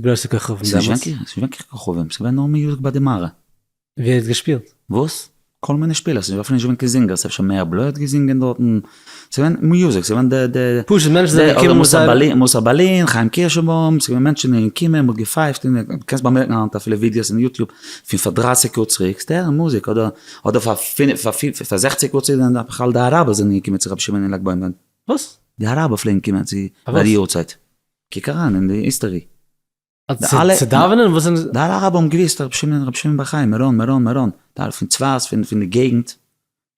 גרויסע כוכבים דעמאלטס. ס'נישט וויכטיג, ס'נישט וויכטיג כוכבים, ס'געווען נאר מיוזיק ביי די מערה. ווער האט געשפילט? וואס? כל מיני שפילער, ס'איז אפילו נישט געווען קיין זינגערס, אפשר מאיר בלוי האט געזינגען דארטן, ס'געווען מיוזיק, ס'געווען די די די, פשוט מענטשן זענען געקומען מיט זייערע, אדער מוסר מוסר ברלין, חיים קירשענבוים, ס'געווען מענטשן זענען געקומען, מ'האט געפייפט, און דו קענסט באמערקן היינט אפילו ווידיאס אין יוטיוב פון פאר דרייסיג יאר צוריק, ס'איז די זעלבע מוזיק, אדער אדער פאר פינף פאר פיר פאר זעכציג יאר צוריק זענען בכלל די אראבער זענען געקומען צו רבי שמעון אין לג בעומר, וואס? די אראבער פלעגן קומען צו ביי די יארצייט. קוק אריין אין די היסטערי. צו דאווענען? וואס זענען זיי? די אלע אראבער האבן געוואוסט אז רבי שמעון רבי שמעון בר חיים, מירון מירון מירון, די אלע פון צפת פון פון די געגנט,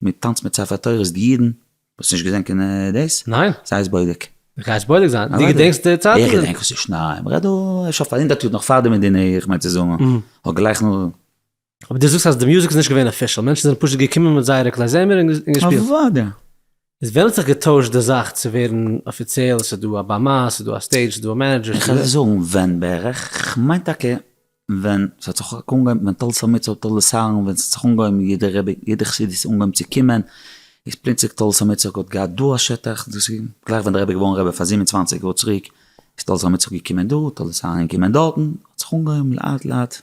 מען טאנצט מיט ספר תורות די אידן, האסט נישט געזען קיין דאס? ניין. זיי'ס בודק. גיי'ס בודק זיין. די געדענקסט די צייטן? איך געדענק וואס איז שניי, מ'רעדט דא שוין פאר הונדערט יאר נאך פאר די מדינה איך מיין צו זאגן, און גלייך נאך. אבער דו זאגסט אז די מוזיק איז נישט געווען אפישעל, מענטשן זענען פשוט געקומען מיט זייערע כלי זמר און געשפילט. אוודאי. איז ווען האט זיך געטוישט די זאך צו ווערן אפיציעל, עס איז דא א במה, עס איז דא א סטעידזש, עס איז דא א מענעדזשער? איך וועל זאגן ווען בערך, כ'מיין טאקע ווען ס'האט זיך אנגעהויבן ווען טל סאמעט סאו טל לסארן ווען ס'האט זיך אנגעהויבן יעדע רבי יעדע חסיד איז אנגעהויבן צו קומען, איז פלוצלינג טל סאמעט סאו האט געהאט דא א שטח, דאס איז גלייך ווען דער רבי איז געווארן רבי פאר זיבן און צוואַנציק יאר צוריק, איז טל סאמעט סאו געקומען דא, טל לסארן געקומען דארטן, האט זיך אנגעהויבן לאט לאט.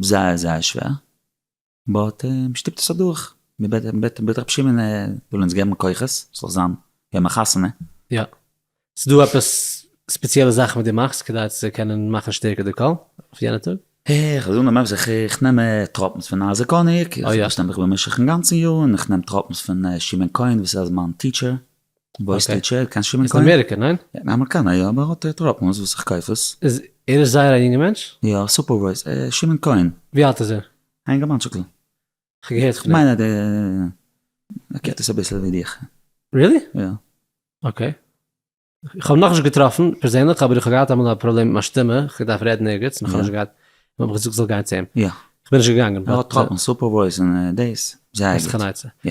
זייער זייער שווער, באט מ'שטופט עס אדורך, מ'בעט ר' שמעון זאל אונז געבן כוחות, ס'זאל זיין יום החתונה. יא. ס'דא עפעס ספעציעלע זאכן וואס דו מאכסט כדי צו קענען מאכן שטערקער די קול אויף יענע טאג? איך זאג נאר ממש זיך, איך נעם טראפנס פון אייזיק האניג, איך פארשטעל מיך במשך אינגאנצן יאר, און איך נעם טראפנס פון שמעון כהן וואס ער איז מיין טיטשער, וואו איז די טשער? קיין שום אין קאן? איז אמעריקא ניין? אין אמעריקאנע יא אבער האט ער טראפנס וואס איך קויף עס. איז ער איז זייער א יונגע מענטש? יא סופערווייז שמעון כהן. ווי אלט איז ער? א יונגערמאנטשיקל. כ'האב געהערט פון אים. כ'מיין אז ער קענט עס אביסל ווי דיך. ריעלי? יא. אקעי. כ'האב נאכנישט געטראפן פערזענליך אבער איך האב געהאט אמאל א פראבלעם מיט מיין שטימע, כ'האב געדארפט רעדן ערגעץ און כ'האב נישט געהאט, און מ'האט מיך געזאגט זאל גיין צו אים. יא. כ'בין נישט געגאנגען. ער האט טראפנס, סופערווייז און דעיס. זייער גוט.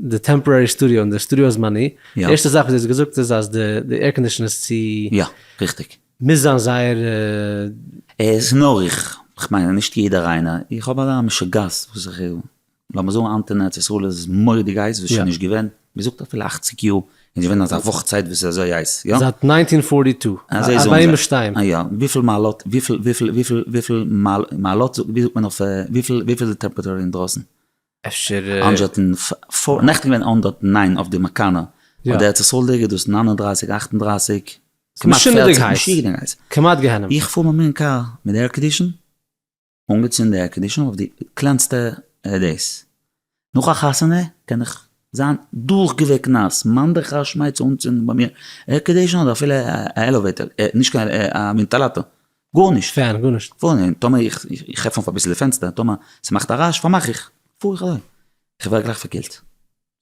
די טעמפארערי סטודיאו און די סטודיאו הזמני, די ערשטע זאך וואס דו האסט געזאגט איז אז די עירקאנדישן איז צו. יא, ריכטיג. מוז זיין זייער. עס נאר איך, כ'מיין נישט יעדער איינער, איך האב אזא משוגעת וואס איך, לאמיר זאגן היינט אין ארץ ישראל איז מורא'דיג הייס וואס שוין נישט געווען, מ'זאגט אפילו אַכציק יאר איז נישט געווען אזא וואך צייט וואס איז אזוי הייס, יא? זייט נײַנצן פֿאָרטי טוּ, אז ביים שטיין. א יא, וויפיל מעלות, וויפיל וויפיל וויפיל וויפיל מעלות, ווי זאגט מען אויף, וויפיל וויפיל איז די טעמפעראטור אינדרויסן? אפשר. אנ ש האט אין פאר נעכטן געווען אן דאט ניין אויף די מקאנא אויף די ארץ ישראל ליגע דאס נײַן און דרײַסיק אַכט און דרײַסיק כמעט פֿערציק משוגענער הייס כמעט גיהנום איך פאר מיט מיין קאר מיט די ערקאנדישן אנגעצינדן די ערקאנדישן אויף די קלענסטע דאס נאך א חתונה קען איך זיין דורך געוועקט נאס מאן דכר שמיה צו אנצינדן ביי מיר ערקאנדישן אדער אפילו א עלעוועיטער נישט קיין א ווענטעלאטאר גארנישט. קיין גארנישט. פארן טאמער איך איך עפן אויף אביסל די פענסטער טאמער ס'מאכט א רעש פארמאך איך. פאר איך אליין. איך ווער גלייך פארקילט.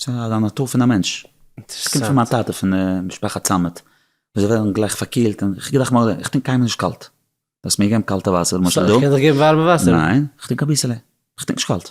ס'איז א נאטור פון א מענטש. ס'קומט פון מיין טאטע פון משפחת סאמעט. זיי ווערן גלייך פארקילט און איך געדאכט מרדכי איך טרינק קיינמאל נישט קאלט. דו האסט מיר געגעבן קאלטע וואסער למשל דא. סאו איך קען דיך געבן ווארעמע וואסער. ניין. איך טרינק אביסעלע. איך טרינק נישט קאלט.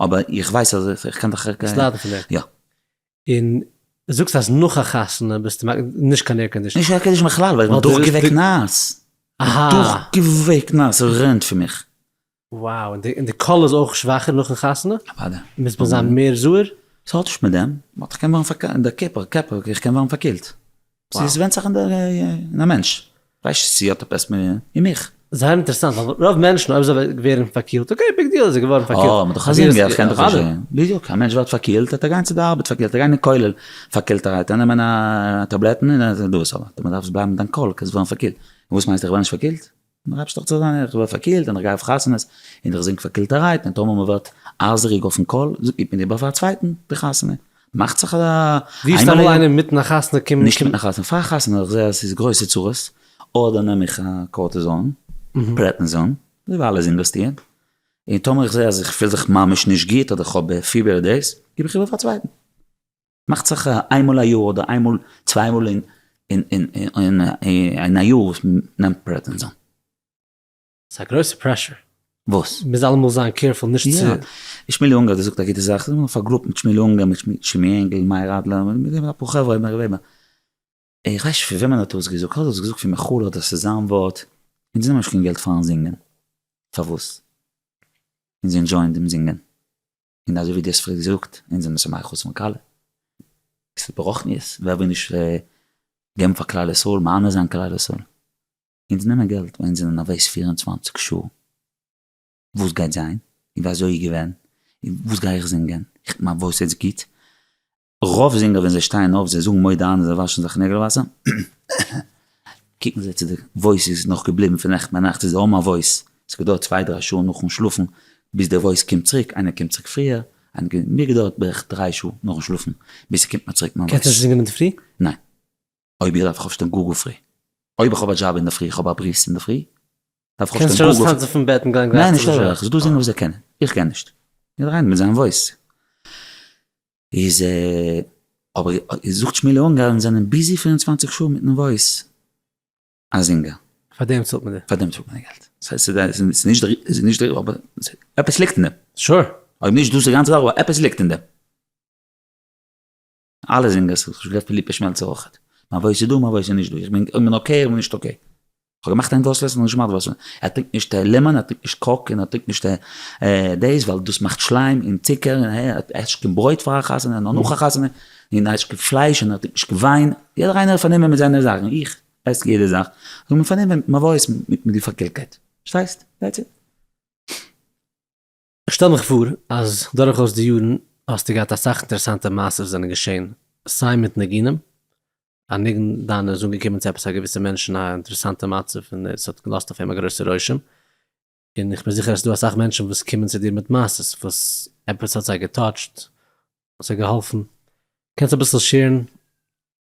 אבער איך ווייס אז איך קען דיך גיין. סליידן פון דעם. יא. און זאגסט אז נאך א חתונה ביסטו מק נישט קיין עיר קאנדישן. נישט עיר קאנדישן בכלל ווייל איך בין דורך געוועקט נאס. אהא. דורך געוועקט נאס רענט פון מיך. וואו און די און די קול איז אויך שוואכער נאכן חתונה? אוודאי. מוז מען זיין מער זהר? ס'האט נישט מיט דעם, באט איך קען ווערן פארקעלט, די קעפל קעפל איך קען ווערן פארקילט. ס'איז ווענדט זיך אין א מענטש, ווייסט צו האט עפעס אין מיך. זייער אינטערעסאנט ווייל רוב מענטשן אויב זיי ווערן פארקילט אקעי ביג דיעל זיי געווארן פארקילט. אה, מ'דאך א זינגער איך קען דאך א זינגער. בדיוק, א מענטש ווערט פארקילט וועט ער גיין צו די ארבעט פארקילט, ער גייט אין כולל פארקילט ער גייט נעמען א טאבלעטן און דאס אבער דו דארפסט בלייבן מיט דיין קול קענסט ווערן פארקילט. וואס מיינסטו איך ווער נישט פארקילט? מ'רייבט זיך צו זיין, איך ווער פארקילט און איך גיי אויף חתונות און איך זינג פארקילטערהייט און טאמער מ'ווערט אייזעריג אויפן קול גיבט מען איבער פאר א צווייטן די חתונה, מאכט זיך א ווי איז טאמער איינער מיטן א חתונה קומט? נישט מיטן א חתונה, פאר א חתונה איך זעה אז ס'איז גרויסע צרות, אדער נעם איך א קארטיזאן, פרעדניזאן, דערווייל איז אינוועסטירט, און טאמער איך זעה אז איך פיל זיך ממש נישט גוט אדער איך האב פיבער אדער דעיס, גיב איך איבער פאר א צווייטן. מאכט זיך איינמאל א יאר אדער איינמאל צוויי מאל אין אין א יאר וואס מען נעמט פרעדנעזאן. ס'איז א גרויסע פרעשור. וואס? מ'מוז אלעמאל זיין קעירפול נישט צו. יא. שמואלי אונגער האט געזאגט א גוטע זאך, זענען מיר פארגרופט מיט שמואלי אונגער, מיט שמעי ענגל, מאיר אדלער, מיט נאך אפאר חברה, מיר וועבער. איך ווייס נישט פון וועמען ער האט דאס געזאגט, האט ער עס געזאגט פון מחול אדער ס'איז זיין ווארט, אונז נעמען נישט קיין געלט פארן זינגען. פארוואס? אונז ענדשויען דעם זינגען. און אזוי ווי דו האסט פריער געזאגט, אונז זענען ס'מער חוץ מקהלה, ס'איז ברוחניות, ווער וויל נישט געבן פאר כלל ישראל, מהנה זיין כלל ישראל, אונז נעמען געלט ווייל אונז זענען נערוועז פֿיר און צוואַנציק שעה, וואס גייט זיין, און ווי אזוי איז געווען, און וואס גיי איך זינגען, איך בין נערוועז יעצט גוט, רוב זינגער ווען זיי שטייען אויף זיי זאגן מודה אני זיי וואשן זיך נעגל וואסער, קוקן זיי צו די וואויס איז נאך געבליבן פון נעכטן ביינאכט איז האבן א וואויס, עס געדויערט צוויי דריי שעה נאכן שלאפן ביז די וואויס קומט צוריק, איינער קומט צוריק פריער, מיר געדויערט בערך דריי שעה נאכן שלאפן ביז ס'קומט מיר צוריק מיין וואויס. קענסט נישט זינגען אינדערפרי? ניין. אויב איך דארף איך אויפשטיין גאר גאר פרי. אויב איך האב א דזשאב אינדערפרי איך האב א ברית אינדערפרי דארף איך אויפשטיין גאר גאר פרי. קענסט שוין ארויס טאנצן פון בעט און גיין גלייך צו די שול? ניין נישט אזוי אויך, זאל דו זינגען וואס זיי קענען, איך גיי נישט. יעדער איינער מיט זיין וואויס. איז אבער זאגט שמעילע אונגארן זענען ביזי פֿיר און צוואַנציק שעה מיטן וואויס א זינגער. פאר דעם צאלט מען די. פאר דעם צאלט מען די געלט. ס'איז נישט דער אבער עפעס ליגט אין דעם. שור. אויב נישט דאס די גאנצע זאך אבער עפעס ליגט אין דעם. אלע זינגערס, כ'האב שוין גערעדט פון ליפא שמעלצער אויכעט. מיין וואויס איז דא מיין וואויס איז נישט דא. איך בין אקעי איך בין נישט אקעי. כ'האב געמאכט ענדלאס לעסן און נישט געמאכט וואסער. ער טרינקט נישט לעמאן, ער טרינקט נישט קאוק און ער טרינקט נישט דעיס ווייל דאס מאכט שליים און צוקער און ער עסט נישט קיין ברויט פאר א חתונה און נאך א חתונה און ער עסט נישט קיין פלייש און ער טרינקט נישט קיין וויין. יעדער איינער איז פארנומען מיט זיינע זאכן. איך עס יעדע זאך. איך בין פארנומען מיט מיין וואויס מיט די פארקעלטקייט. פארשטייסט? דעטס איט. כ'שטעל מיך פאר אז דורכאויס די יארן האסטו געהאט אסאך אינטערעסאנטע מעשיות וואס זענען געשען, סיי מיט ניגונים, א ניגון דיינע איז אנגעקומען צו עפעס א געוויסע מענטש אין א אינטערעסאנטע מצב און עס האט געלאזט אויף אים א גרויסע רושם, און איך בין זיכער אז ס'דא אסאך מענטשן וואס קומען צו דיר מיט מעשיות וואס עפעס האט זיי געטאטשט, זיי געהאלפן, קענסט אביסל שעירן?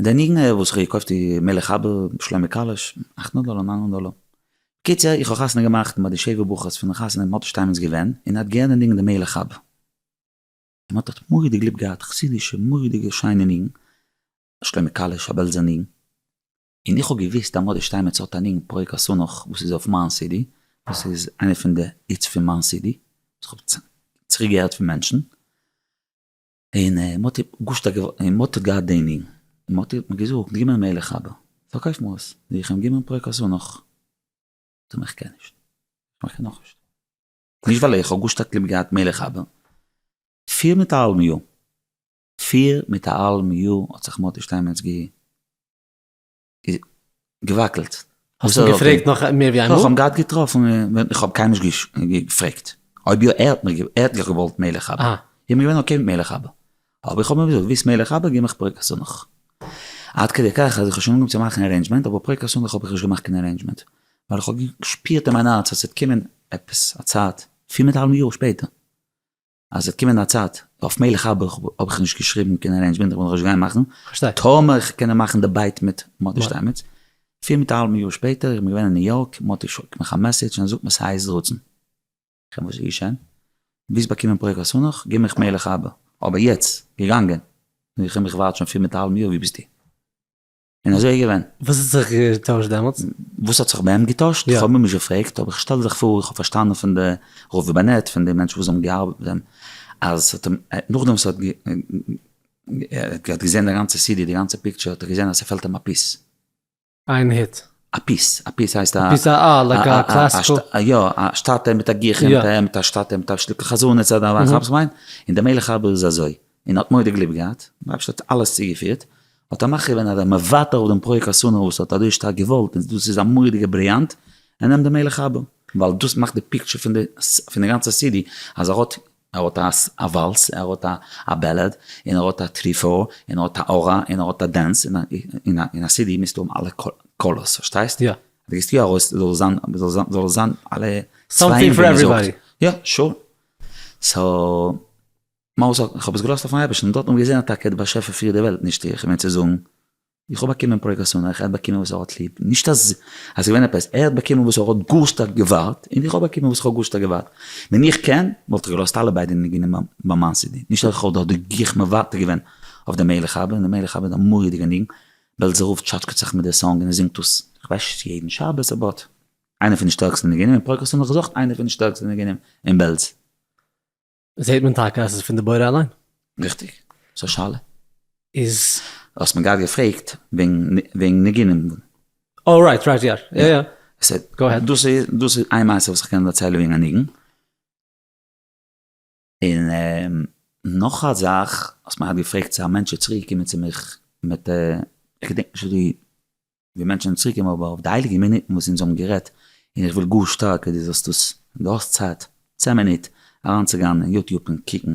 די ניגון וואס איך האב געקויפט איז מלך אבא, שלמה קאליש, אכט הונדערט דאלער, ניין הונדערט דאלער. בקיצור איך האב חתונה געמאכט מיט די שבע ברכות פון די חתונה ווען מוטי שטיינמעץ איז געווען, און ער האט געהערט די ניגון די מלך אבא, און מוטי האט מורא'דיג ליב געהאט, חסידישע מורא'דיגע שיינע ניגון, שלמה קאליש א בעלזער ניגון, און איך האב געוויסט אז מוטי שטיינמעץ האט א ניגון פרק השנח וואס איז אויף מיין סידי, וואס איז איינע פון די היטס פון מיין סידי, וואס איך האב צוריק געהערט פון מענטשן. און מוטי גושט האט געוואלט, און מוטי האט געהאט די ענין, און מוטי האט מיר געזאגט, געב מיר מילא חבר, פארקויף מיר עס, וועל איך אים געבן פרק אזוי נאך, זאג מיר איך קען נישט, זאג מיר איך קען נאכנישט, נישט ווייל איך האב גאר שטארק ליב געהאט מילא חבר, פֿיר מיט א האלבן יאר, פֿיר מיט א האלבן יאר האט זיך מוטי שטיינמעץ גע. געוואקלט. האסט אים געפרעגט נאך מער ווי איינמאל? איך האב אים געהאט געטראפן, איך האב קיינמאל נישט געפרעגט, אויב יא, ער האט מיך, ער האט זיך געוואלט מלך אבא, איך בין געווען אקעי מיט מלך אבא, אבער איך האב אים געזאגט, ווילסט מלך אבא, גיב מיך פרעג חתונך. עד כדי כך אז איך האב שוין אנגעהויבן צו מאכן ארעינדזשמענט, אבער פרעג חתונך האב איך נישט געמאכט קיין ארעינדזשמענט, ווייל איך האב געשפירט אין מיין הארץ אז ס'וועט קומען עפעס א צייט, פיר מיט א האלבן יאר שפעטער, אז ס'וועט קומען א צייט, אויף מלך אבא האב איך נישט געשריבן קיין ארעינדזשמענט, איך וועל נאכנישט גיין מאכן, טאמער איך קענען מאכן דעבעיט מיט מאטי שטיינמעץ, פיר מיט א האלבן יאר שפעטער, איך בין געווען אין ניו יארק, מאטי שיקט מיך א מעסעדזש און זאגט מיר ס'הייסט רצון, איך א וואס איז געשען? ביסט באקומען פרק חתונך? גיב מיך מלך אבא, אבער יעצט, געגאנגען, איך קען מיך ווארט שוין פיר מיט א האלבן יאר, ווי ביסטו? און אזוי איז געווען. וואס האט זיך געטוישט דעמאלטס? וואס האט זיך בהם געטוישט? איך האב מיר נישט געפרעגט, אבער איך שטעל זיך פאר, איך האב פארשטאנען פון די ראובן בענעט, פון די מענטשן וואס האבן געארבעט מיט אים, אז ס'האט אים, נאכדעם וואס ער האט, ער האט געזען די גאנצע סידי, די גאנצע פיקטשער, האט ער געזען אז ס'פעלט אים א פיס. איין היט. א פיס, א פיס הייסט א. א פיס א א, לייק א קלאסיקל. א יא, א שטאטע מיט א גיך אינטען, מיט א שטאטע מיט א שטיקל חזנות, אדער וואס איך מיין, און די מלך ארבער איז אזוי. און האט מורא'דיג ליב געהאט, רבש ע האט אלעס צוגעפירט, האט ער מכריע געווען אז ער וועט מוותר אויף דעם פרוי חתונה וואס ער האט אזוי שטארק געוואלט און דאס איז א מורא'דיגע בריאנט, ער נעמט די מלך אבא, ווייל דאס מאכט די פיקטשער פון די פון די גאנצע סידי, אז ער האט ער האט א א וואלס, ער האט א א בעלעד, און ער האט א טרי פאר, און ער האט א ארה, און ער האט א דענס, און א און א סידי מיזטו האבן אלע קאלערס, פארשטייסט? יא. דו געסט יא ארויס זאל זיין זאל זיין זאל זיין אלע צבעים ווי מ'זאגט. סאמטינג פאר עוועריבאדי. יא, שור. סאו. מרת זאגט, איך האב עס געלאזט אויפן אייבערשטן, דארט האט מען געזען אז טאקע דער באשעפער פירט די וועלט, נישט איך, כ'מיין צו זאגן, איך האב באקומען פרקות און איך, ער האט באקומען וואס ער האט ליב, נישט אז עס איז געווען עפעס, ער האט באקומען וואס ער האט גאר שטארק געווארט, און איך האב באקומען וואס איך האב גאר שטארק געווארט, ווען איך קען, וואלט איך געלאזט אלע ביידע ניגונים ביים ביים מיין סידי, נישט אז איך האב דארט די גיך מוותר געווען אויף די מלך אבא, און די מלך אבא איז א מורא'דיגע ניגון, בעלזער רב טשאטשקעט זיך מיט די סאנג און ער זינגט דאס, איך ווייס נישט צו יעדן שבת אבאוט, איינער פון די שטערקסטע ניגונים אין פרקות און איך זאך איינער פון די שטערקסטע ניגונים אין בעלז. זעהט מען טאקע אז עס איז פון די בורא אליין. ריכטיג. ס'איז א שאלה. איז. האסט מיר גראד געפרעגט וועגן ניגונים. אה רייט רייט יא יא יא. גאו אהעד. דאס איז איין מעשה וואס איך קען דערציילן וועגן א ניגון. און נאך א זאך האסט מיר געפרעגט צו א מענטש איז צוריקגעקומען צו מיך מיט א איך געדענק נישט ווי די ווי מענטשן האבן צוריק געבן אבער אויף די הייליגע מינוטן וואס אונז האבן גערעדט און איך וויל גאר שטארק אז דו זאלסט דאס ווען דו האסט צייט צען מינוט אריינצוגיין אין יוטיוב און קוקן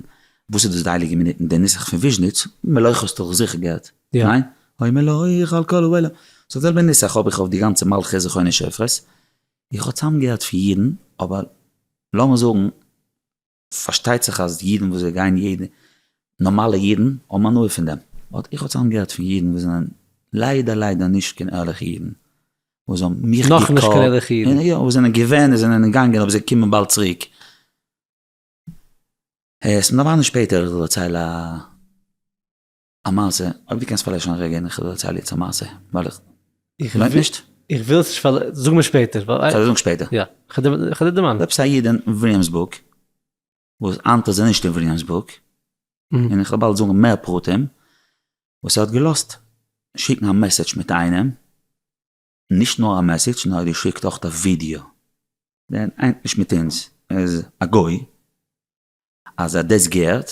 וואס איז דאס די הייליגע מינוטן די נוסח פון וויזשניץ מלויך האסטו דאך זיכער געהערט ניין? אוי מלויך על כל אוהלה סאו זעלבע נוסח האב איך אויף די גאנצע מלכי זכרוני שופרות איך האב צוזאמגעהערט פון יעדן אבער לאמיר זאגן. פארשטייט זיך אז אידן וואס זיי גייען יעדע, נארמאלע אידן האבן הנאה פון דעם, באט איך האב צוזאם געהערט פון אידן וואס זענען ליידער ליידער נישט קיין ערליכע אידן, וואס האבן מיך געקאלט, נאך נישט קיין ערליכע אידן? יא, וואס זענען געווען, זענען געגאנגען אבער זיי קומען באלד צוריק. עס מיר דערמאנען שפעטער, איך דערצייל א. א מעשה, אויב דו קענסט פארלעשן א רגע און איך זאל דערציילן יעצט א מעשה, ווייל איך, לוינט נישט? איך וויל עס נישט פאר, זאג מיר שפעטער. כ'וועל דיר זאגן שפעטער. יא, כ'וועל דיר דערמאנען. עפעס א איד אין וויליאמסבורג, וואס היינט איז ער נישט אין וויליאמסבורג, און איך וועל באלד זאגן מער פרטים, וואס ער האט געלאזט שיקן א מעסעדזש מיט איינעם, נישט נאר א מעסעדזש, נאר ער האט געשיקט אויך א ווידיאו, דער איינט נישט מיט אונז, ער איז א גוי, אז ער האט דאס געהערט,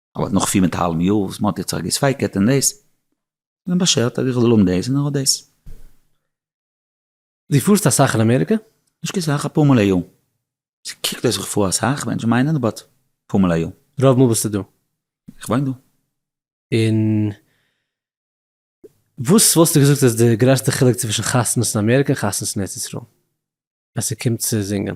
אבער נאך פיר מיט א האלבן יאר וואס מען האט יעצט זיך געספייקעט אין דאס, האט מען באשערט אז איך זאל האבן דאס און איך האב דאס. דו פארסט אסאך אין אמעריקע? נישט קיין סאך, אפאר מאל א יאר. ס'קוקט אויס ווי כ'פאר אסאך, מענטשן מיינען, באט אפאר מאל א יאר. רוב מאל ביסטו דא? איך וואוין דא. און וואס וואלסטו געזאגט איז די גרעסטע חילוק צווישן חתונות אין אמעריקע און חתונות אין ארץ ישראל ווען ס'קומט צו זינגען?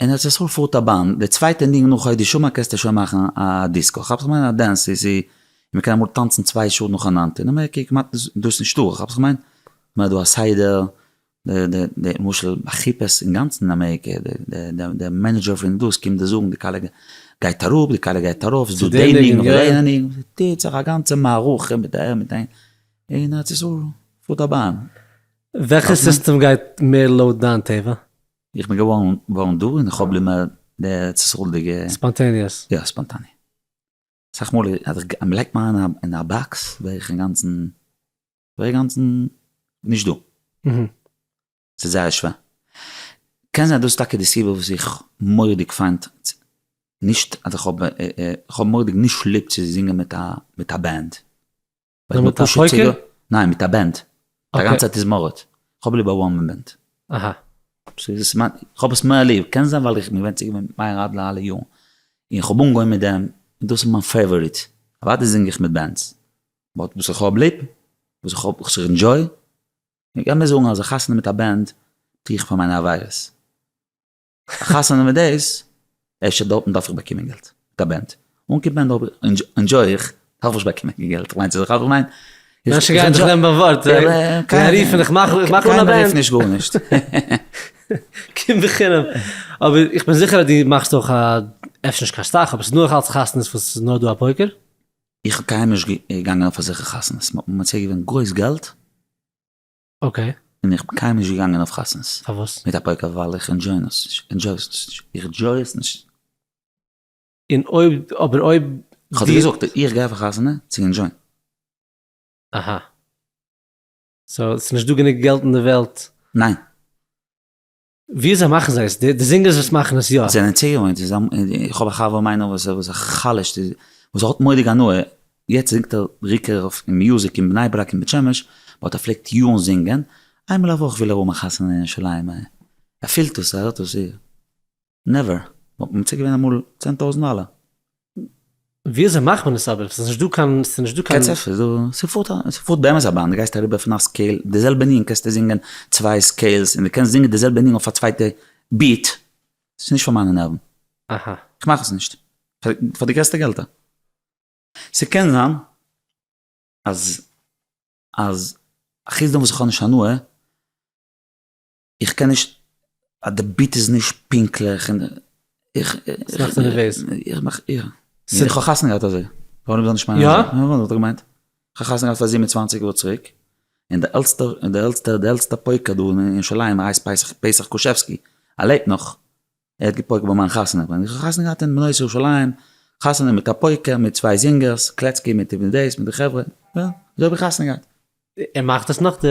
אין ארץ ישראל פארט א באן, די צווייטע ניגון נאך הוי די שמה קענסטו שוין מאכן א דיסקא, כאפסט וואס כ'מיין? א דענס סי די, מען קען אמאל טאנצן צוויי שעה נאכאנאנד, אין אמעריקע כמעט איז דאס נישטא, כאפסט וואס כ'מיין? מען האט דא א סדר, די די למשל אכיפות אינגאנצן אין אמעריקע, די די מענעדזשער פון דאס קומט די זאגן די כלה גייט אראפ די כלה גייט ארויף, ס'איז דא די ניגון אדער יענע ניגון, ס'טוט זיך א גאנצע מערכה מיט די מיט די, אין ארץ ישראל פארט א באן. וועלכע סיסטעם גייט מער לויט דיין טבע? איך בין געווארן דא און איך האב ליב מער די ארץ ישראל'דיגע. ספאנטעניעס. יא ספאנטעני. אסאך מאל אז איך לייג מיך איין אין א באקס ווער איך אינגאנצן, ווער איך אינגאנצן נישט דא. ס'איז זייער שווער. קען זיין דאס טאקע די סיבה וואס איך מורא'דיג פיינט, נישט אז איך האב, איך האב מורא'דיג נישט ליב צו זינגען מיט א מיט א בענד. נאר מיט א שטרויקער? ניין מיט א בענד, א גאנצע תזמורת, כ'האב ליב א וואן מען בענד. אהא. כ'האב עס מער ליב, קען זיין ווייל איך בין געווען צוגעוואוינט מיט מאיר אדלער אלע יארן, און כ'האב אנגעהויבן מיט דעם, און דאס איז מיין פעיוואריט, אוודאי זינג איך מיט בענדס, באט וואס איך האב ליב, וואס איך האב, וואס איך ענדזשוי, איך קען מער זאגן אז א חתונה מיט א בענד טו איך פאר מיינע עבירות. א חתונה מיט דעיס, אפשר דארטן דארף איך באקומען געלט, מיט א בענד, אן קיין בענד ענדזשוי איך, דארף איך באקומען קיין געלט, כ'מיין צו זיך אויף, כ'מיין. מענטשן גייען דיך נעמען ביים ווארט, זיי וועלן רופן איך מאך אן א בענד. קיינער רופט נישט גארנישט. קום בחינם. אבער איך בין זיכער אז דו מאכסט אויך א, אפשר נישט קיין סטאך, אבער ס'איז נאך אלץ חתונות וואס ס'איז נאר דא א פויקער. איך בין קיינמאל נישט געגאנגען אויף אזעלכע חתונות, מ'האט מיר מציע געווען גרויס געלט, אקעי. און איך בין קיינמאל נישט געגאנגען אויף חתונות. פארוואס? מיט א פויקער ווייל איך ענדזשוי עס נישט. ענדזשוי עס נישט. איך ענדזשוי עס נישט. און אויב, אבער אויב. כ'האב דיר געזאגט, איך גיי אויף א חתונה צו ענדזשוין. אהא. סאו ס'נישט דא גענוג געלט אין די וועלט. ניין. וויאזוי מאכן זיי עס? די זינגערס וואס מאכן עס יא? זענען ציונות, איך האב א חבר מיינער וואס איז א חלש, וואס האט מורא'דיג הנאה, יעצט זינגט ער בעיקר אויף מיוזיק אין בני ברק און בית שמש, באט ער פלעגט יארן זינגען, איינמאל א וואך וויל ער האבן א חתונה אין ירושלים, ער פילט עס, ער הערט עס, נעווער, מ'האט מציע געווען אמאל צען טויזנט דאלער, וויאזוי מאכט מען עס אבער? ס'איז נישט דא קיין, ס'איז נישט דא קיין. קעצער, ס'איז דא, ס'פארט א, ס'פארט באמת א באן, די גייסט אריבער פון א סקעיל, די זעלבע ניגון קענסטו זינגען צוויי סקעילס, און די קענסט זינגען די זעלבע ניגון אויף א צווייטע ביעט, ס'איז נישט פאר מיינע נערוון. אהא. כ'מאך עס נישט. פאר די, פאר די גרעסטע געלטער. ס'קען זיין אז, אז, אחוץ דעם וואס כ'האב נישט הנאה. איך קען נישט, די ביט איז נישט פונקטליך און איך, ס'מאכט מיר נערוועז. איך מאך איר. ס. איך האב חתונה געהאט אזוי. ווארום זאל נישט מיינען אזוי. יא? וואס האט ער געמיינט? איך האב חתונה געהאט פאר זיבן און צוואַנציק יאר צוריק, און די עלטסטע, די עלטסטע, די עלטסטע פויקע דא אין ירושלים ער הייסט פסח, פסח קושעווסקי, ער לעבט נאך. ער האט געפויקט ביי מיין חתונה, איך האב חתונה געהאט אין בנות ירושלים, חתונה מיט א פויקער, מיט צוויי זינגערס, קלעצקי מיט די דעיס מיט די חברה, יא, אזוי האב איך חתונה געהאט. ער מאכט עס נאך די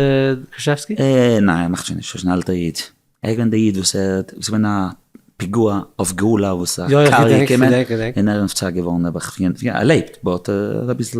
קרשעווסקי? ניין ער מאכט שוין נישט, ער איז שוין א אלטער איד, ער איז געווען די איד וואס ער האט, ס'איז געווען א פיגוע אויף גאולה וואס א קאר איז געקומען און ער איז נפטר געווארן, ער האט ער לעבט באט ער איז אביסל.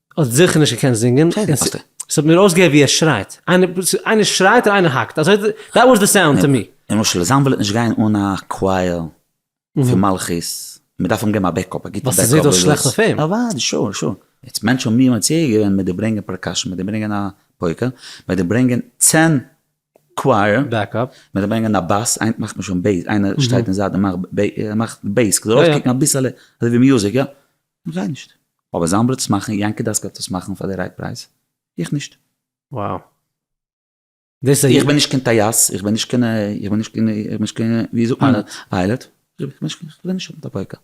האסט זיכער נישט געקענט זינגען. שוין, וואס די. עס האט מיר אויסגעהערט ווי ער שרייט. איינער שרייט און איינער האקט. אזוי, דעט וואס די סאונד טו מי. למשל זיין וועלט נישט גיין אן א קווייער פון מלכות, מען דארף אים געבן א בעקאפ, א גוטע בעקאפ. וואס ס'זעהט אויס שלעכט אויף אים. אוודאי, שור, שור. יעצט מענטשן האבן מיר מציע געווען מיט די ברענגען פארקאשען, מיט די ברענגען א פויקע, מיט די ברענגען צען קווייער, בעקאפ, מיט די ברענגען א באס, איינער מאכט מיר שוין בעיס, איינער שטייט אין זייט און מאכט בעיס, כדי ארויסקוקן אביסעלע אזוי ווי מיוזיק, יא. זיי נישט. אבער זיין בלוט צו מאכן, יענקי דאסקאל האט עס מאכן פאר די רייט פרייז, איך נישט. Wow. איך בין נישט קיין טייס, איך בין נישט קיין, איך בין נישט קיין, איך בין נישט קיין, ווי זאגט מען, פיילעט, איך בין נישט, כ'וויל נישט האבן טאפויקא.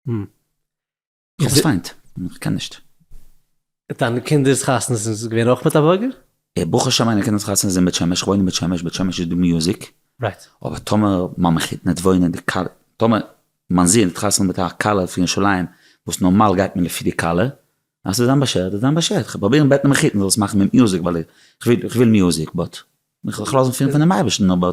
כ'האב עס פיינט, כ'קען נישט. דיינע קינדער'ס חתונות איז געווען אויך מיט א בורגער? ברוך השם מיינע קינדער'ס חתונה איז אין בית שמש, כ'וואוין אין בית שמש, בית שמש איז דא מיוזיק, אבער טאמער מיין מחותן וועט וואוינען אין די קאלע, טאמער מיין זון וועט חתונה מיט א כלה פון ירושלים, וואס נארמאל גייט מען לפי די כלה, אז ס'זאל זיין באשערט זאל זיין באשערט, כ'וועל פרובירן בעטן מיין מחותן זאל עס מאכן מיט מיוזיק, ווייל כ'וויל מיוזיק, באט כ'וועל זיך לאזן פירן פונעם אייבערשטן, אבער.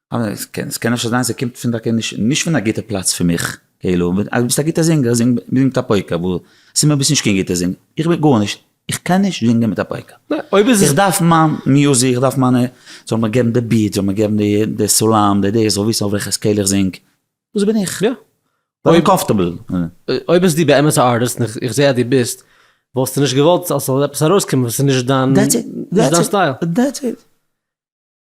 עס קען אפשר זיין ס'קומט פון טאקע נישט פון א גוטע פלאץ פון מיך, כאילו אז ביסט א גוטע זינגער זינג מיט א פויקא, וואו ס'איז מיר ביסט נישט קיין גוטע זינגער, איך בין גארנישט, איך קען נישט זינגען מיט א פויקא, איך דארף מיין מיוזיק, איך דארף מיינע, זאל מיר געבן די ביעט, זאל מיר געבן די סאלאם, די דאס, איך זאל וויסן אויף וועלכע סקעיל איך זינג, דאס בין איך, אויב קאמפארטעבל. אויב ביסטו באמת א ארטיסט, און איך זע אז דו ביסט, וואלסטו נישט געוואלט אז ס'זאל עפעס ארויסקומען וואס איז נישט דיין סטייל?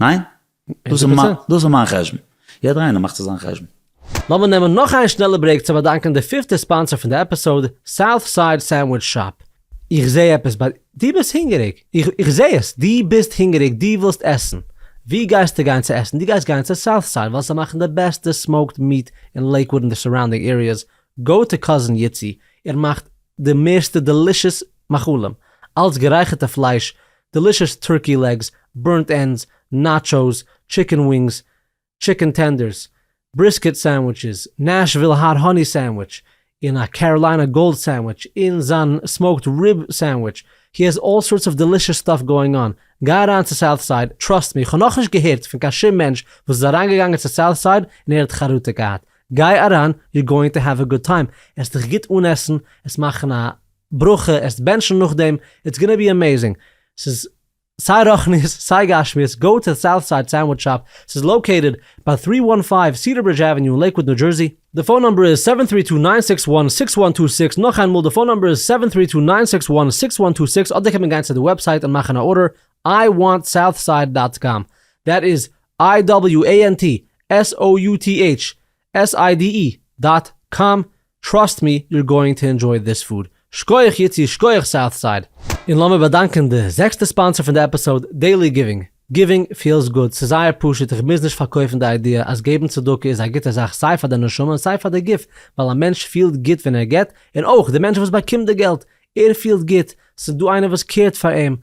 ניין? דאס איז מיין, דאס איז מיין חשבון. יעדער איינער מאכט זיך זיין חשבון. לאמיר נעמען נאך איין שנעלע ברעיק צו באדאנקען די פיפטע ספאנסער פון די עפיסאוד, סאוט סייד סענדוויטש שאפ. איך זע עפעס ביי דו ביסט הונגעריג? איך זע עס! דו ביסט הונגעריג, דו ווילסט עסן. וואו גייסטו גיין צו עסן? דו גייסט גיין צו סאוט סייד ווייל זיי מאכן די בעסטע סמאוקד מיעט אין לעיקוואוד און די סאראונדינג עריעס, גאו טו קאזין איצי, ער מאכט די מערסטע דעלישעס מאכלים, אלץ גערייכערטע פלייש דעלישעס טורקי לעגס, בורנט ענדס, נאטשאוס, טשיקן ווינגס, טשיקן טענדערס, בריסקעט סענדוויטשעס, נעשוויל האט האני סענדוויטש, און א קעראליינע גאלד סענדוויטש, און זיין סמאוקד ריב סענדוויטש, הי העז אלל סארטס אוו דעלישעס סטאף גאואינג אן, גיי אריין צו סאוט סייד, טראסט מי, כ'האב נאכנישט געהערט פון קיין שום מענטש וואס איז אריינגעגאנגען צו סאוט סייד און ער האט חרטה געהאט, גיי אריין, יור גאואינג טו העוו א גוד טיים, עסט דיך גוט אן עסן, עס מאכן א ברכה עסט בענטשן נאכדעם, איטס גאנא בי עמעזינג, ס'איז סיי רוחניות סיי גשמיות, גאו טו סאוט סייד סענדוויטש שאפ, ס'איז לאקעיטעד ביי טרי וואן פייוו סידער ברידזש עוועניו אין לעיקוואד ניו דזשערסי, די פאון נאמבער איז סעווען טרי טו ניין סיקס וואן סיקס וואן טו סיקס, נאך איינמאל די פאון נאמבער איז סעווען טרי טו ניין סיקס וואן סיקס וואן טו סיקס, אדער קען מען גיין צו די וועבסייט און מאכן א ארדער, איי וואנט סאוטסייד דאט קאם, דעט איז איי דאבעליו עי ען טי עס או יו טי עיטש, SIDE דאט קאם טראסט מי יור גאוינג טו ענדזשוי דיס פוד, שקויעך יצי שקויעך סאוט סייד. און לאמיר באדאנקען די זעקסטע ספאנסער פון די עפיסאוד, דעילי גיווינג. גיווינג פיעלס גוד, ס'איז זייער פשוט איך מוז נישט פארקויפן די איידיע אז געבן צדקה איז א גוטע זאך סיי פאר די נשמה און סיי פאר די גוף ווייל א מענטש פיעלט גוט ווען ער געבט און אויך די מענטש וואס באקומט די געלט ער פיעלט גוט ס'איז דא איינער וואס קעירט פאר אים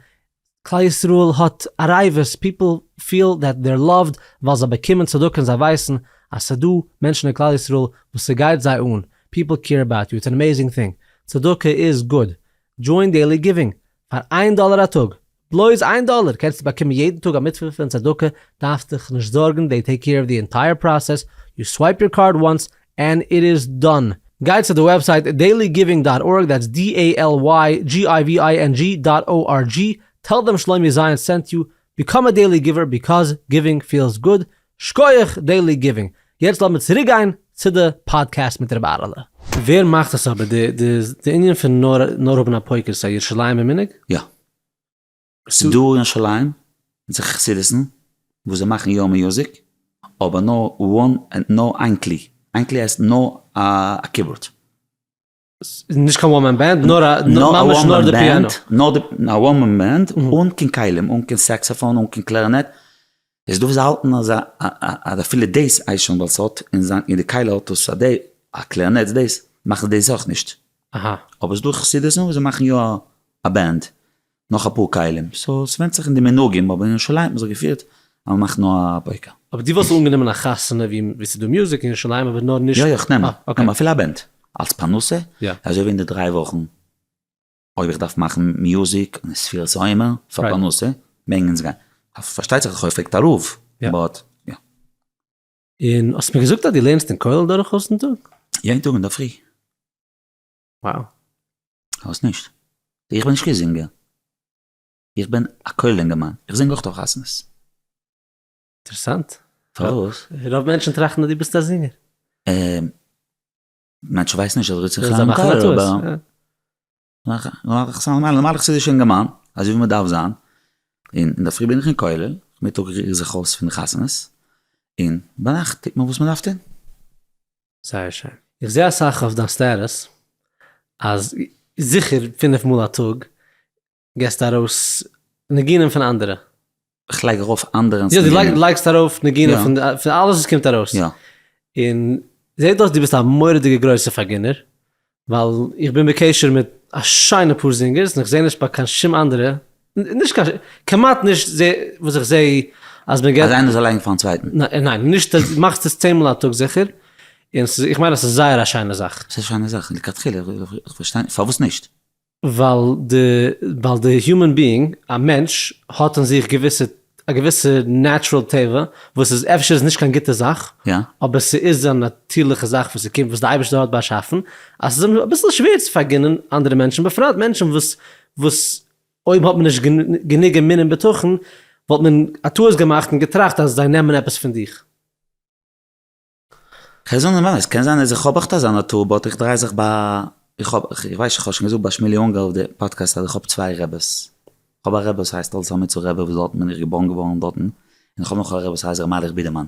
כלל ישראל האט א רעיוועס, פיפל פיעל דעט דער לאווד ווייל זיי באקומען צדקה און זיי ווייסן אז ס'דא מענטשן אין כלל ישראל וואס ס'גייט זיי אן, פיפל קעיר אבאוט יו, איטס ען עמעיזינג טינג, צדקה איז גוד, דזשוין דעילי גיווינג, פאר איין דאלער א טאג, בלויז איין דאלער קענסטו באקומען יעדן טאג א מצוה פון צדקה, דארפסט דיך נישט זארגן, דעי טעיק קעיר אוו די ענטייער פראסעס, יו סווייפ יור קארד וואנס ענד איט איז דאן. גייט צו די וועבסייט דעילי גיווינג דאט ארג, דעטס די עי על וויי דזשי איי ווי איי ען ג'י דאט או אר דזשי, טעל דעם שלומי זיון סענט יו, ביקאם א דעילי גיווער ביקאז גיווינג פילס גוד, שקויעך דעילי גיווינג. יעצט לאמיר צוריק גיין צו די פאדקעסט מיט ר' אהרעלע. ווער מאכט עס אבער די די די ענין פון נאר נאר האבן א פויקער ס'איז א ירושלימ'ער מנהג? יא. ס'דא אין שליים אונזער חסידות'ן וואס זיי מאכן יא מיוזיק, אבער נאר וואן ענד נאר איין כלי, איין כלי הייסט נאר א קיבארד. נישט קיין וואן מען בענד, נאר א ממש נאר די פיאנא. נאר די א וואן מען בענד, אן קיין כלים, אן קיין סעקסאפאן, אן קיין קלערינעט, איז דא וואס האלטן אז אז אפילו דאס אייזשען וואלט עס האט אין זיין אין די כלה האט עס א דעי א קלערנעט דאס מאכן דאס אויך נישט אבער איז דא חסידות'ן וואס זיי מאכן יא א בענד נאך אפאר כלים סאו עס ווענדט זיך אין די מנהגים אבער אין ירושלים האט זיך געפירט אז מען מאכט נאר א פויקא. אבער דו וואלסט אנגענומען א חתונה ווי ווי ס'איז דא מוזיק אין ירושלים אבער נאר נישט. יא יא כ'נעם אוקיי אפילו א בענד אלס פרנסה יא אזוי ווי אין די דריי וואכן. אויב איך דארף מאכן מיוזיק און ספירת העומר פאר פרנסה, מעגן אונז גיין. פארשטייט זיך אז כ'האב געפרעגט א רב, באט יא. און האסט מיר געזאגט אז דו לערנסט אין כולל דורכאויס'ן טאג? יעדן טאג אינדערפרי. וואו. כ'ווייס נישט. איך בין נישט קיין זינגער. איך בין א כולל אינגערמאן. איך זינג אויך אויף חתונות. אינטערעסאנט. פארוואס? רוב מענטשן טראכטן אז דו ביסט א זינגער. מען שווייסט נישט אז ר' איציק חיים קאלער אבער נארמאלער חסידישער נארמאלער חסידישער אינגערמאן אזוי ווי מען דארף זיין, און אינדערפרי בין איך אין כולל, נאכמיטאג ריר איך זיך אויס פון חתונות, און ביינאכט טוט מען וואס מען דארף טון. זייער שיין. איך זעה אסאך אויף דיין סטעטוס אז זיכער פֿינף מאל א טאג געסט ארויס ניגונים פון אנדערע? איך לייג ארויף אנדערענס ניגונים. יא, דו לייגסט ארויף ניגונים פון אלעס וואס קומט ארויס. יא. און זעט אויס דו ביסט א מורא'דיגע גרויסע פארגינער, ווייל איך בין בקשר מיט א שיינע פאר זינגערס און איך זע נישט ביי קיין שום אנדערע, נישט קיין, כמעט נישט זע וואס איך זע אז מען געט. אז איינער זאל לייגן פארן צווייטן. ניין, נישט, מאכסט עס צען מאל א טאג זיכער, און איך מיין אז ס'איז זייער א שיינע זאך. ס'איז א שיינע זאך לכתחילה, איך פארשטיי נישט, פארוואס נישט? ווייל די, ווייל די היומען ביאינג, א מענטש, האט אין זיך געוויסע, א געוויסע נעטשרעל טבע, וואס איז אפשר איז נישט קיין גוטע זאך, אבער ס'איז א נאטירליכע זאך וואס ס'קומט, וואס די אייבערשטער האט באשאפן, אז ס'איז אים אביסל שווער צו פארגינען אנדערע מענטשן, בפרט מענטשן וואס, וואס אויב האט מען נישט גענוג אמון און בטחון, וואלט מען א טעות געמאכט און געטראכט אז זיי נעמען עפעס פון דיך. כ'וועל זאגן נארמאל, עס קען זיין אז איך האב עכט אזא נאטור באט איך דריי זיך ביי, איך האב, איך ווייס איך האב שוין געזאגט ביי שמואלי אונגאר אויף די פאדקעסט אז איך האב צוויי רעבעס, איך האב א רעבע וואס הייסט אלס עמיצער רעבע וואס דארטן בין איך געבארן געווארן דארטן, און איך האב נאך א רעבע וואס הייסט ר' מיילעך בידערמאן,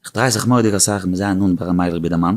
איך דריי זיך מורא'דיג אסאך מיט זיי נאנט ביי ר' מיילעך בידערמאן,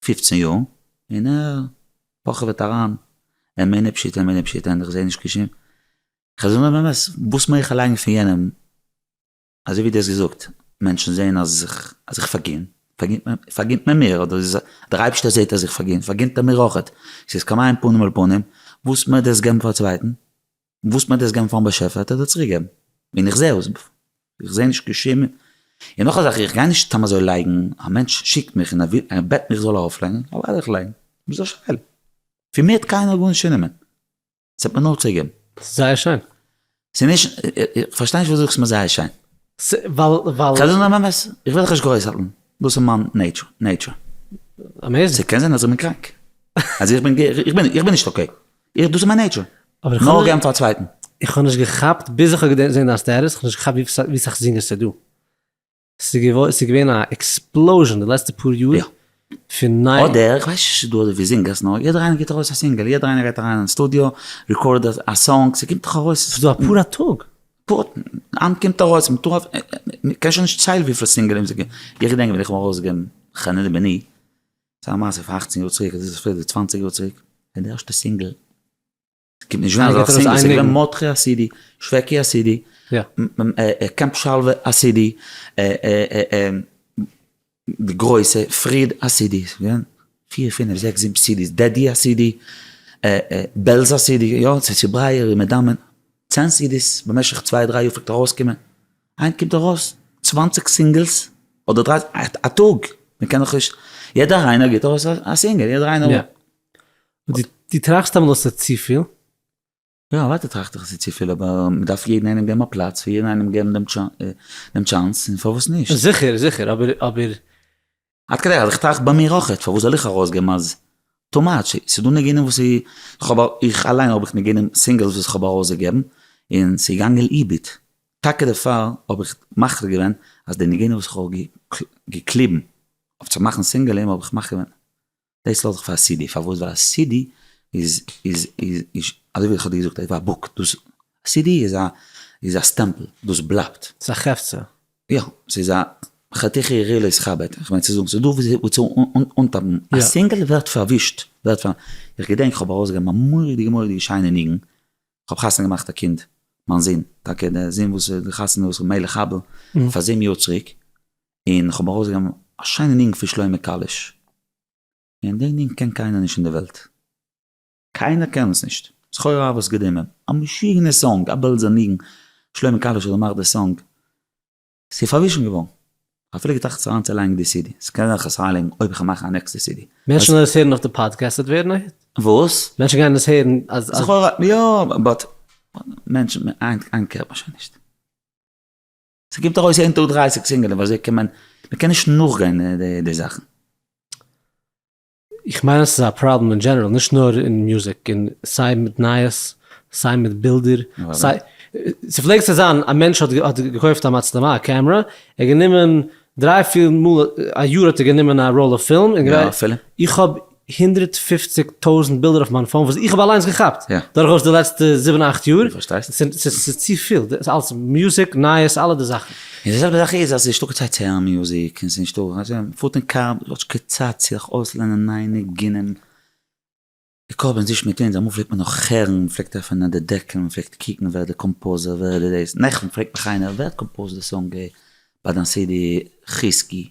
פֿופֿצן יאר און ער פאכעוועט אריין אין מענין פשיטא אין מענין פשיטא און איך זעה נישט קיין שום חזון און אמת וואס מעג איך לייגן פון יענעם אזוי ווי דו האסט געזאגט מענטשן זעהן אז איך פארגין פארגינט מען מיר אדער דער אייבערשטער זעהט אז איך פארגין פארגינט ער מיר אויכעט ס'איז כמים פנים אל פנים וואס מעג איך דאס געבן פאר א צווייטן וואס מיינט עס געבן פארן באשעפער האט ער דיר צוריק געבן, און איך זעה עס, איך זעה נישט קיין שום, און נאך א זאך איך גיי נישט סתם אזוי לייגן, א מענטש שיקט מיך און ער וויל ער בעט מיך איך זאל ארויף לייגן, איך וועל ארויף לייגן, וואס איז די שאלה? פון מיר האט קיינער גארנישט צונומען, עס האט מיר נאר צוריק געבן. ס'איז זייער שיין. ס'איז נישט, איך פארשטיי נישט פארוואס דו זאגסט מיר זייער שיין. ס, ווייל, ווייל. כ'על דיר זאגן דעם אמת, איך וועל דיך נישט גרויסהאלטן, דאס איז מיין נעיטשור, נעיטשור. אמעיזינג. ס'קען זיין אז איך בין קראנק, אז איך בין, איך בין נישט אקעי. איך דאס איז מיין נעיטשור. נאר געבן פאר א צווייטן. איך האב נישט געכאפט ביז איך האב געזען דיין סטעטוס, איך האב נישט געכאפט ווי סאך זינגערס ס'איז דא. ס'איז געווען א עקספלאוזשען די לעצטע פאר יאר פון ניי. אדער איך ווייס נישט צו ס'איז דא אזויפיל זינגערס נאר יעדער איינער גיבט ארויס א סינגעל, יעדער איינער גייט אריין אין סטודיאו, ריקארדט א סאנג, ס'קומט דאך ארויס. ס'איז דא אפאר א טאג. היינט קומט ארויס מטורף, מ'קען שוין נישט ציילן וויפיל סינגעלען ס'געווען, איך געדענק ווען איך האב ארויסגעגעבן חנני בני. ס'איז א מעשה פון אכצן יאר צוריק, אדער איז עס אפילו די צוואנציג יאר צוריק, פון די ערשטע סינגל, ס'קומט נישט ווען אזא סינגל, ס'איז געווען מאדכי א סידי, שוועקי א סידי, קעמפ שלווה א סידי, די גרויסע, פריד א סידי, ס'איז געווען פיר פינעף זעקס זיבן סידיס, דעדי א סידי, בעלזא סידי, יא, צו צוברייער און מדמם, צען סידיס במשך צוויי דריי יאר פלעגט ארויסקומען. היינט קומט ארויס צוואַנציק סינגעלס אדער דרייסיג א טאג, מען קען דאך נישט, יעדער איינער גיבט ארויס א סינגעל, יעדער איינער. די טראכסט אמאל אז ס'איז צופיל? יא אוודאי טראכט איך אז ס'איז צופיל אבער מען דארף יעדן איינעם געבן א פלאץ, פאר יעדן איינעם געבן דעם טשאנס און פארוואס נישט. זיכער זיכער אבער אבער עד כדי אז איך טראכט ביי מיר אויכעט פארוואס זאל איך ארויסגעבן אז טו מאטש, ס'דא ניגונים וואס איך האב, איך אליין האב איך ניגונים סינגעלס וואס איך האב ארויסגעגעבן און ס'איז געגאנגען לאיבוד, טאקע דערפאר האב איך מחליט געווען אז די ניגונים וואס איך האב געקליבן אויף צו מאכן סינגעלים האב איך מחליט געווען דאס האלט זיך פאר א סידי, פארוואס? ווייל א סידי איז איז איז אזוי ווי איך האב דיר געזאגט איז א בוק, דאס סידי איז א איז א סטעמפל, דאס בלייבט. ס'איז א חפצא. יא, ס'איז א חתיכי ר' לוי'ס חבד, איך מיין צו זאגן, ס'איז דא וואס וואס צו אנטאפן, א סינגל ווערט פארווישט, ווערט פאר, איך געדענק איך האב ארויסגעגעבן א מורא'דיגע מורא'דיגע שיינע ניגון, כ'האב חתונה געמאכט א קינד, מיין זון, טאקע דער זון וואס איז גע'חתמ'ט געווארן מלך הבל, פאר זיבן יאר צוריק, און כ'האב ארויסגעגעבן א שיינע ניגון פון שלמה קאליש, און די ניגון קען קיינער נישט אין די וועלט, קיינער קען עס נישט, זכור אהבה סגור דעם עמ', א משוגענער סאנג, א בעלזער ניגון, שלמה קאליש האט געמאכט די סאנג, ס'איז פארווישן געווארן, כ'האב אפילו געטראכט זיך אריינצולייגן די סידי, ס'קען זיין כ'וועל עס אריינלייגן אויב כ'וועל מאכן א נעקסטע סידי. מענטשן גייען עס הערן אויף די פאדקעסט וועט ווערן א היט? וואס? מענטשן גייען עס הערן אז אז. זכור אהבה יא באט מענטשן איינקער שוין נישט. ס'קומט ארויס יעדן טאג דרײַסיק סינגלען וואס אזוי קען מען, מען קען נישט נאכגיין די זאכן. איך מיין אז ס'איז א פראבלעם אין דזשענעראל, נישט נאר אין מוזיק, אין סיי מיט נייעס, סיי מיט בילדער, סיי, ס'פלעגט צו זיין א מענטש האט האט געקויפט א מצלמה א קעמרע, ער האט גענומען דריי פיר מאל א יאר האט ער גענומען א ראל אויף פילם, איך האב הונדרעט פֿופֿציק טויזענט בילדער אויף מיין פאון וואס איך האב אליינס געכאפט דורכאויס די לעצטע זיבן אכט יאר, ס'איז צופיל, דאס אלעס מוזיק, נייעס, אלע די זאכן. און די זעלבע זאך איז אז ס'נישטא קיין צייט צו הערן מוזיק, און ס'נישטא, מ'פארט אין קאר, מ'האט נישט קיין צייט צו זיך אויסלערנען נייע ניגונים, איך האב עס נישט מיט אונז, אמאל פלעגט מען נאך הערן, מ'פלעגט עפענען די דעקל, מ'פלעגט קוקן ווער די קאמפאוזער, ווער איז דאס, נעכטן פרעגט מיך איינער ווער האט קאמפאוזט די סאנג ביי דיין סידי חזקי?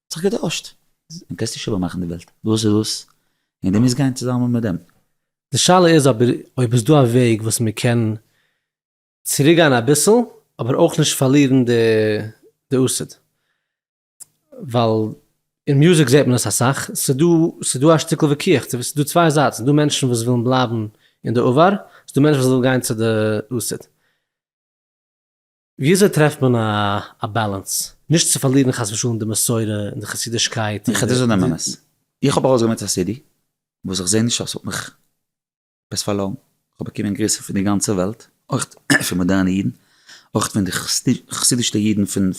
האט זיך געטוישט. און קענסט נישט איבער מאכן די וועלט. דאס איז דאס און די מוזט גיין צוזאמען מיט דעם. די שאלה איז אבער אויב איז דא א וועג וואס מען קען צוריק גיין אביסל אבער אויך נישט פארלירן די עסד. ווייל אין מוזיק זעט מען עס אסאך, ס'דא ס'דא א שטיקל וויכוח צו ס'דא צוויי זייטן, ס'דא מענטשן וואס ווילן בלייבן אין די עבר, ס'דא מענטשן וואס ווילן גיין צו די עסד. וויאזוי טרעפט מען א באלאנס נישט צו פארלירן חס ושלום די מסורה און די חסידישקייט און די. איך האב ארויסגעברענגט א סידי וואס איך זעה נישט אז ס'האט מיך עפעס פארלוירן, כ'האב באקומען גריסן פון די גאנצע וועלט, אויך פון מאדערנע אידן, אויך פון די חסידישטע אידן פון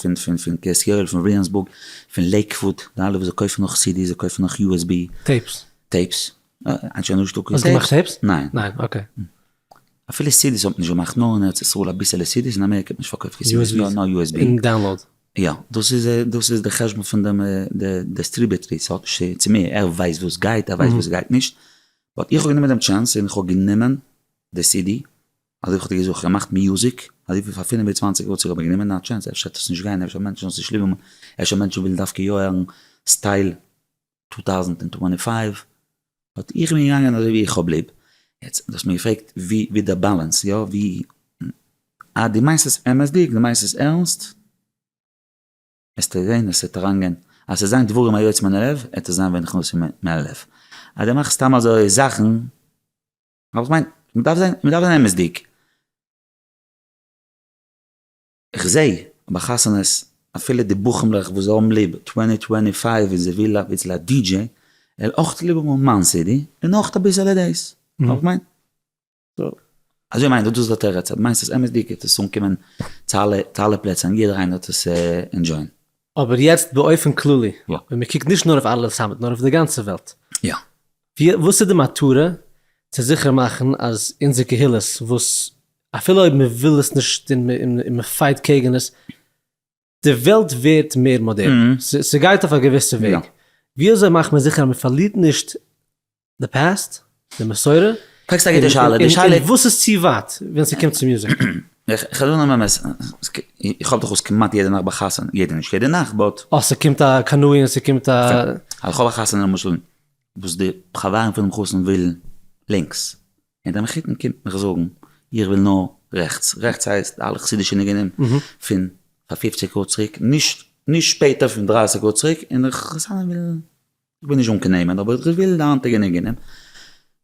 קרית יואל, פון וויליאמסבורג, פון לעיקוואוד, די אלע וואס זיי קויפן נאך סידיס, זיי קויפן נאך יו עס בי. טעיפס. טעיפס. ניין. ניין. אקעי. אפילו סידיס האט מען נישט געמאכט נאר אין ארץ ישראל אביסעלע סידיס אין אמעריקע האט מען נישט פארקויפט קיין סידיס נאר נאר יו עס בי און דאונלאוד. יא דאס איז דאס איז די חשבון פון דעם די דעסטריבעטרי ס'האט נישט צו מיר ער ווייסט וואס גייט ער ווייסט וואס גייט נישט באט איך האב גענומען דעם טשענס און איך האב גענומען די סידי אזוי ווי כ'האב דיר געזאגט כ'האב געמאכט מיוזיק אזוי ווי פאר פינף און צוואנציג יאר צוריק האב איך גענומען א טשענס אפשר וועט עס נישט גיין אפשר מענטשן וועלן עס נישט ליב האבן אפשר מענטשן ווילן דווקא יא הערן סטייל טו טאוזנט און טווענטי פייוו באט איך בין געגאנגען אזוי ווי איך האב ליב, יעצט דו האסט מיר געפרעגט ווי ווי דער באלאנס יא ווי אז דו מיינסט עס אמת'דיג דו מיינסט עס ערנסט וועסטו זען עס וועט אריינגיין אז עס וועט זיין דברים היוצאים מן הלב וועט עס זיין ווען נכנסים מן מן הלב, אז דו מאכסט סתם אזוי זאכן, איך מיין מען דארף זיין מען דארף זיין אמת'דיג. איך זעה ביי חתונות אפילו די בחמ'לעך וואס זיי האבן ליב טווענטי טווענטי פייוו און זיי ווילן אביסל א די דזשעי ער אויך צו ליב האבן מיין סידי און אויך אביסעלע דעיס נאר איך מיין סאו אזוי מיין איך דאס איז א תירוץ אז דו מיינסט עס אמת'דיג וועט עס אנקומען צו אלע צו אלע פלעצער און יעדער איינער וועט עס ענדזשויען. אבער יעצט באופן כללי ווען מ'קוקט נישט נאר אויף ארליס האמת נאר אויף די גאנצע וועלט. יא. וואס איז די מטרה? צו זיכער מאכן אז אונזער קהילות וואס אפילו אויב מען וויל עס נישט און מען פייט קעגן עס, די וועלט ווערט מער מאדערן, ס'גייט אויף א געוויסע וועג, ווי אזוי מאכט מען זיכער אז מען פארלירט נישט די פאסט, די מסורה, פרעגסט א גוטע שאלה, די שאלה איז. און וואס איז צו ווייט ווען ס'קומט צו מוזיק? איך זאג דיר באמת, איך האב דאך אויס כמעט יעדע נאכט ביי חתונה, יעדע נישט יעדע נאכט באט. אה ס'קומט א קנאי און ס'קומט א. איך האב א חתונה למשל. וואס די חברים פונעם חתן ווילן לינקס, און דער מחותן קומט מיך זאגן איך וויל נאר רעכטס, רעכטס הייסט אלע חסידישע ניגונים פון פאר פופציג יאר צוריק, נישט נישט שפעטער פון דרייסיג יאר צוריק, און דער חתן וויל, איך בין נישט אנגענומען אבער איך וויל די היינטיגע ניגונים,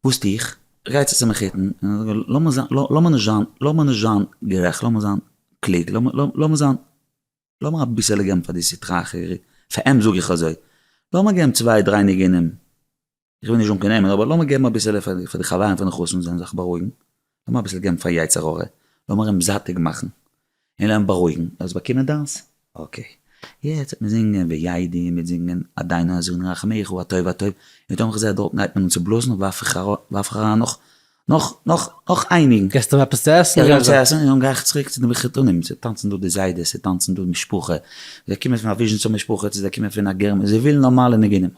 וואס טו איך? איך גיי צו צום מחותן און איך זאג לאמיר זיין לאמיר נישט זיין לאמיר נישט זיין גערעכט לאמיר זיין קלוג לאמיר זיין. לאמיר אביסעלע געבן פאר די סטרא אחרי, פאר אים זאג איך אזוי, לאמיר געבן צוויי דריי ניגונים, איך וויל נישט זאגן קיין נעמען, אבער לאמיר געבן אביסעלע פאר די חברים פון די חתן זאלן זיך בארואיגן, לאמיר אביסל געבן פאר יצר הרע, לאמיר אים זאטיג מאכן, און לאמיר אים בארואיגן, ער זאל באקומען דאס, אקעי, יעצט וועט מען זינגען וידי, מ'וועט זינגען אדיינו אזרנו רחמיך הטוב הטוב, און פתאום איך זע דארטן גייט מען אן צו בלאזן, ווארף איך אריין נאך נאך נאך נאך איינינג. געסט אים עפעס צו עסן? איך גיב אים צו עסן און גיי איך צוריק צו די מחותנים, ס'איז טאנצן דא די זיידעס, ס'איז טאנצן דא משפחה, זיי קומען פון א וויזשניצער משפחה צו זיי קומען פון א גערמאן, זיי ווילן נארמאלע ניגונים.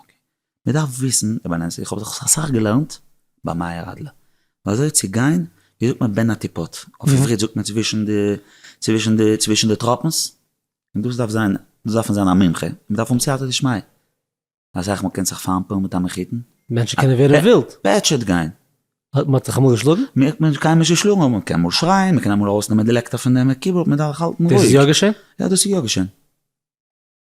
מ'דארף וויסן, רבי אליינס, איך האב דאך אסאך געלערנט ביי מאיר אדלער, אזוי צו גיין, ווי זאגט מען בין הטיפות, אויף עברית זאגט מען צווישן די צווישן די צווישן די טראפנס, און דאס דארף זיין, דאס דארף מען זיין א מומחה, מ'דארף האבן סייעתא דשמיא. אסאך מאל קענסט זיך פארנפעלן מיט א מחותן. מענטשן קענען ווערן ווילד. פעטשעט גיין. האט מען דיך אמאל געשלאגן? מיר האט קיינער נישט געשלאגן אבער מען קען אמאל שרייען, מען קען אמאל ארויסנעמען די לעקטער פון דעם קיבארד, מען דארף האלטן רואיג. דאס איז יא געשען? יא דאס איז יא געשען.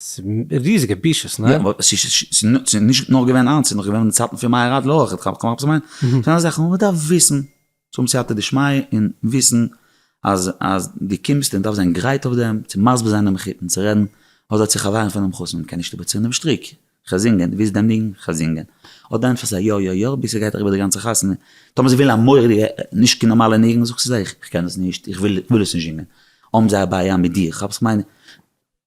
ס'איז ריזיגע בושות, ניין? יא, אבער ס'איז נישט נאר געווען איינס, ס'איז נאך געווען אין די צייטן פון מהר א אויך, כ'האב קיינמאל געמיינט, ס'זענען זאכן וואס מען דארף וויסן. צו האבן סייעתא דשמיא און וויסן אז אז דו קומסט און דארפסט זיין גרייט אויף דעם צו מסביר זיין דעם מחותן צו רעדן אזוי צו חברים פון דעם חתן קען נישט איבערציען דעם שטריק כ'זינגען דו ווילסט דעם ניגון כ'זינגען אט דען ענטפערסטו יא יא יא ביז ס'גייט אריבער די גאנצע חתונה טאמער זיי ווילן א מורא'דיגע נישט קיין נארמאלע ניגון זאגסטו זיי איך קען עס נישט איך וויל עס נישט זינגען האבן זיי א בעיה מיט דיר כאפסט כ'מיין?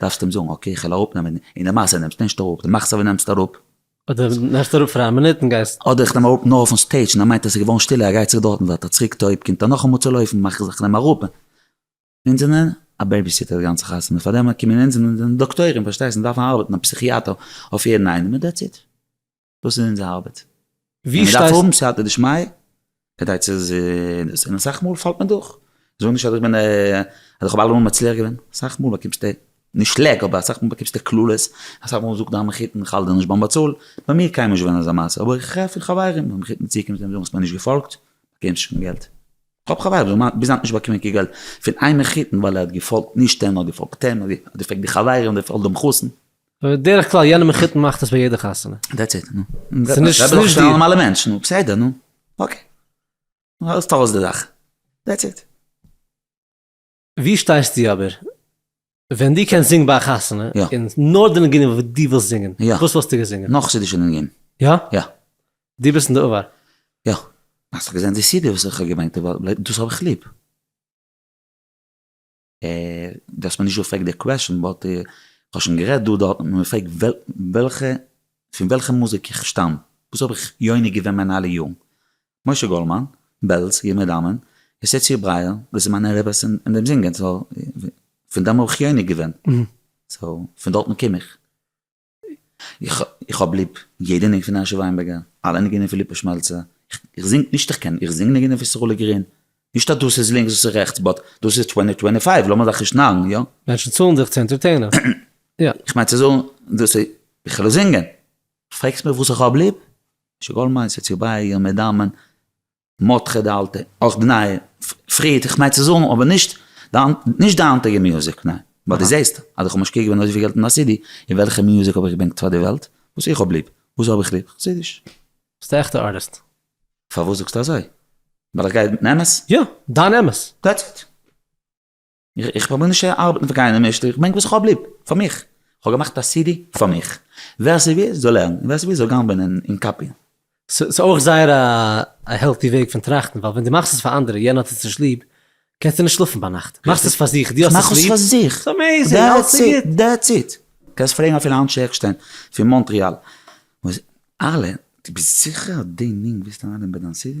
דארפסט אים זאגן אקעי איך וועל אראפ נעמען און די מעשה נעמסט נישט אראפ די מאכסט אווי נעמסט אראפ. אדער נעמסט אראפ פאר א מינוט און גייסט. אדער איך נעם אראפ נאר אויפן סטעידש און ער מיינט עס איז געווארן שטילער ער גייט צוריק דארטן ווארט ער צוריק טויב קומט ער נאכאמאל צו לויפן מאך איך נעם אראפ און אונז זענען א בעיביסיטער די גאנצע חתונה פארדעם קומען אונז אונז זענען דאקטוירים פארשטייסט אונז דארפן ארבעטן א פסיכיאטער אויף יעדן איינעם און דעטס איט. דאס איז אונזער ארבעט. ווי שטייסטו? מען דארף האבן סייעתא דשמיא כדי צו דאס, און אסאך מאל פאלט מען דורך. זאג נישט אז איך בין אז איך האב אלעמאל מצליח געווען. אסאך מאל באקומסטו נישט שלעק, אבער אסאך מאל באקומסטו קללות, אסאך מאל זאגט דיין מחותן איך האלט דיר נישט ביים באצאל. ביי מיר קיינמאל נישט געווען אזא מעשה, אבער איך הער פון חברים ווען מחותן צוקומט זיי זאגן האסט מיר נישט געפאלגט, באקומסט נישט קיין געלט. איך האב חברים וואס זאגן ביז היינט נישט באקומען קיין געלט פון איין מחותן ווייל ער האט געפאלגט נישט אים, ער האט געפאלגט אים, ער האט געפאלגט די חברים, ער האט געפאלגט דעם חתן. בדרך כלל יענע מחותן מאכט עס ביי יעדע חתונה. דעטס איט נו. ס'נישט די. ס'נישט די נארמאלע מענטש נו בסדר נו. אקעי. האלסט אויס די זאך. דעטס איט. ווי שטייסטו אבער? ווען דו קענסט זינגן ביי א חתונה, און נאר די ניגונים וואס דו ווילסט זינגען, וואס וואלסטו געזינגען? נאר חסידישע ניגונים. יא? יא. דו ביסט אין די עבר. יא. האסט דאך געזען די סידי וואס איך האב געברענגט דאס האב איך ליב. דו האסט מיר נישט געפרעגט די קוועשאן באט כ'האב שוין גערעדט דא דארט האט מען מיר געפרעגט וועלכע פון וועלכע מוזיק איך שטאם וואס האב איך יונק געווען מיינע אלע יארן משה גאלדמאן בעלז ימי דמן יוסטיציע ברייער דאס איז מיינע רביס אין דעם זינגען סאו פון דעם האב איך יונק געווען סאו פון דארטן קום איך. איך האב ליב יעדע ניגון פון הערשי וויינבערגער, אלע ניגונים פון ליפא שמעלצער, איך זינג נישט איך קען, איך זינג ניגונים פון סרולי גרין, נישט אז דאס איז לינקס דאס איז רעכטס, באט דאס איז טווענטי טווענטי פייוו לאמיר זיך נישט נארן יא? מענטשן צאלן זיך צו ענטערטעינען, יא. איך מיין צו זאגן דאס איז בכלל זינגען. פרעגסט מיך וואס איך האב ליב? שגעון מיינסט עטס יו ביי יו מדמיין? מותחה די אלטע, אויך די נייע, פריערט איך מיין צו זאגן, אבער נישט די היינטיגע מיוזיק, ניין, ווייל די זעסט אז איך האב משקיע געווען אזויפיל געלט אין א סידי, און וועלכע מיוזיק האב איך געברענגט פאר די וועלט? וואס איך האב ליב, וואס האב איך ליב? חסידיש. ביסט א עכטע ארטיסט. פארוואס זאגסטו אזוי? ווייל איך גיי מיטן אמת? יא, דיין אמת. דעטס איט. איך פרוביר נישט צו ארבעטן פאר קיינעם נישט, איך ברענג וואס איך האב ליב, פאר מיך, איך האב געמאכט א סידי פאר מיך, ווער ס'וויל זאל הערן, ווער ס'וויל זאל גיין בענען און קאפיען. ס'איז אויך זייער א העלטי וועג פון טראכטן, ווייל ווען דו מאכסט עס פאר אנדערע, יענער האט עס נישט ליב, קענסטו נישט שלאפן ביינאכט, מאכסט עס פאר זיך, דו האסט עס ליב, ס'איז אמעיזינג, אלעס איז גוט. דעטס איט, קענסט פרעגן אפילו אנשי עקשטיין פון מאנטריאל, אלע, דו ביסט זיכער אז די ניגון ווילסטו אריינלייגן ביי דיין סידי?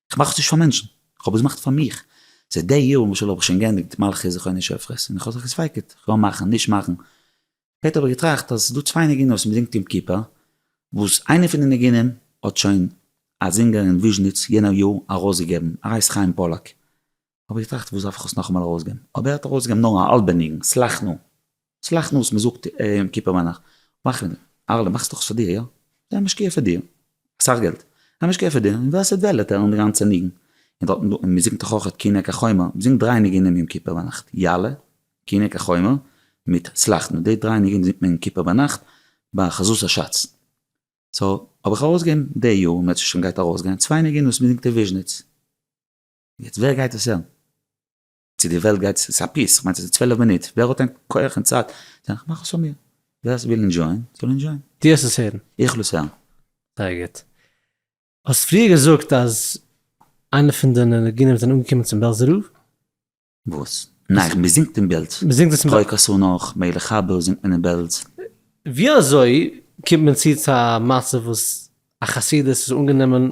כ'מאך עס נישט פאר מענטשן, כ'האב עס געמאכט פאר מיך. זייט די יארן וואס האב איך שוין געענדיגט מלכי זכרוני של פרס, און כ'האב זיך געספיק'ט, כ'געו מאכן, נישט מאכן. שפעטער האב איך געטראכט אז ס'איז דא צוויי נגינות וואס מ'זינגט יום כיפור, וואס איינע פון די ניגונים האט שוין א זינגער אין וויזשניץ יענער יאר ארויסגעגעבן, הרב חיים פאללאק. האב איך געטראכט וואס דארף איך עס נאכאמאל ארויסגעבן, אבער ער האט ארויסגעגעבן נאר א האלבע ניגון, סלח נא, סלח נא וואס מען זאגט יום כיפור ביינאכט, מאך מיר, אהרל'ע מאכסט דאך עס פאר דיר, יא? זיי משקיע פאר דיר, אסאך געלט, זיי משקיע פאר דיר, און ווער ס'וועט וועלט הערן די גאנצע ניגון, און דארט און מען זינגט דאך אויכעט כי הנה כי חומר, מען זינגט דריי ניגונים יום כיפור ביינאכט, יעלה, כי הנה כי חומר, מיט סלח נא, די דריי ניגונים זינגט מען יום כיפור ביינאכט ביי חזות השץ, סאו האב איך ארויסגעגעבן די יאר, און מען האט עס שוין גייט ארויסגיין, צוויי ניגונים וואס מען זינגט אין וויזשניץ. יעצט ווער גייט עס הערן? צו די וועלט גייט עס, ס'איז א פיס, כ'מיין ס'איז צוועלף מינוט, ווער האט ענק כח און צייט, דאן כ'מאך עס פאר מיר, ווער ס'וויל אינדזשויען, זאל אינדזשויען. דו האסט עס הערן? איך וועל עס הערן. זייער גוט. האסט פריער געזאגט אז איינע פון די ניגונים זענען אנגעקומען צום בעלזע רב. וואס? ניין, מ'זינגט אין בעלז. מ'זינגט עס אין בעלז. פרעג עס אן אויך, מעגליך אבער זינגט מען אין בעלז. ווי אזוי קומט מען צו צו א מצב וואס א חסידות איז אנגענומען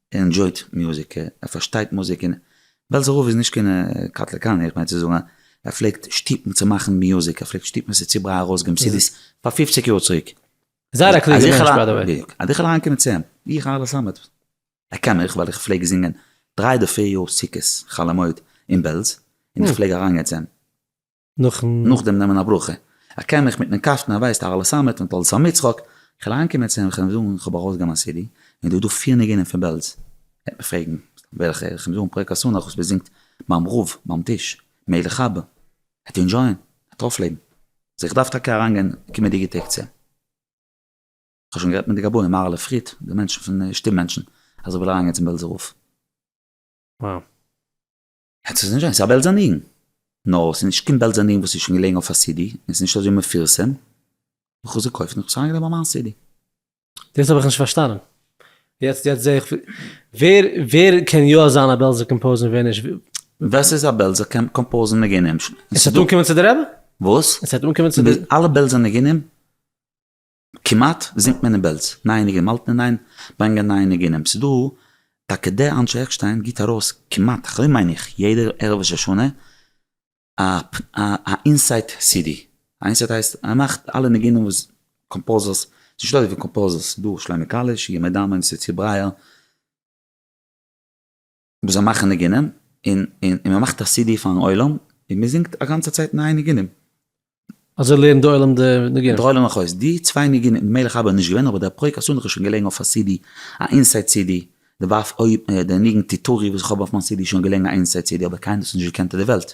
ער אינדזשויט מוזיק, ער פארשטייט מוזיק, און בעלזער רב איז נישט קיין קאטליקאנער, איך מיין צו זאגן ער פלעגט שטופן צו מאכן מוזיק, ער פלעגט שטופן עס איז צו ברייט ארויס געבן סידיס פאר פופציג יאר צוריק. זייער א קלוגער מענטש ביי די וועי. בדיוק. אז איך וועל אריינקומען צו אים, ווי איך אהרלע סאמעט, ער קען מיך ווייל איך פלעג זינגען דריי אדער פיר יאר סוכות חול המועד אין בעלז, און איך פלעג אריינגיין צו אים. נאכן. נאכדעם נעמען א ברכה. איך קען מיך מיטן קאסטן און ווייסט אהל סאמעט מיט אהל סאם יצחק, איך וועל אהנקומען צו אים כ'וועל אים זאגן כ'האב ארויסגעגעבן א סידי און דא איז דא פיר ניגונים פון בעלז, ער וועט מיך פרעגן וועלכע, איך וועל אים זאגן פרק אסוןך וואס מ'זינגט ביים רב ביים טיש, מילא כ'האב, ער וועט אינדזשויען, ער וועט אויפלעבן, זאג איך דארף טאקע אריינגיין קומענדיגע טעג צו אים, כ'האב שוין גערעדט מיט די גבאים מהר ל פריד, די מענטשן פון שטום מענטשן, אז איך וויל אריינגיין צום בעלזער רב. עס איז נישט זיינס, ס'איז א בעלזא ניגון. נאר ס'איז נישט קיין בעלזא ניגון וואס איז שוין געלעגן אויף א סידי, און ס'איז נישט אזוי מפורסם. איך האב עס געקויפט און איך האב עס אריינגעלייגט ביי מיין סידי. דאס האב איך נישט פארשטאנען. יעצט יעצט זעה איך ווער ווער קען יא זיין א בעלזער קאמפאוזער און ווער נישט. ווער ס'איז א בעלזער קאמפאוזער ניגונים. עס וועט אנקומען צו די רבי? וואס? עס וועט אנקומען צו די. אלע בעלזער ניגונים. כמעט, זינגט מען אין בעלז, נייע ניגונים אלט און ניין באנגען נייע ניגונים, ס'איז דא טאקע דער אנשי עקשטיין גיט ארויס כמעט, כ'האב מיין איך, יעדע ערב ראש השנה א א אינסייט סידי, א אינסייט הייסט ער מאכט אלע ניגונים וואס קאמפאוזערס, ס'איז נישט אזוי ווי קאמפאוזערס, ס'איז דא שלמה קאליש, ימי דמן, יוסף צבי ברייער, מען זאל מאכן ניגונים, און און און מען מאכט א סי די פארן עולם, און מען זינגט א גאנצע צייט נייע ניגונים. אזוי לערנט די עולם די ניגונים? די עולם אויך אויס די צוויי ניגונים, די מלך אבא איז נישט געווען, אבער דער פרעיג חתונה איז שוין געלעגן אויף א סי די, א אינסייד סי די, די ווייף אויב די ניגון תתעוררי וואס איך האב אויף מיין סי די איז שוין געלעגן א אינסייד סי די, אבער קיינער האט עס נישט געקענט אויף די וועלט.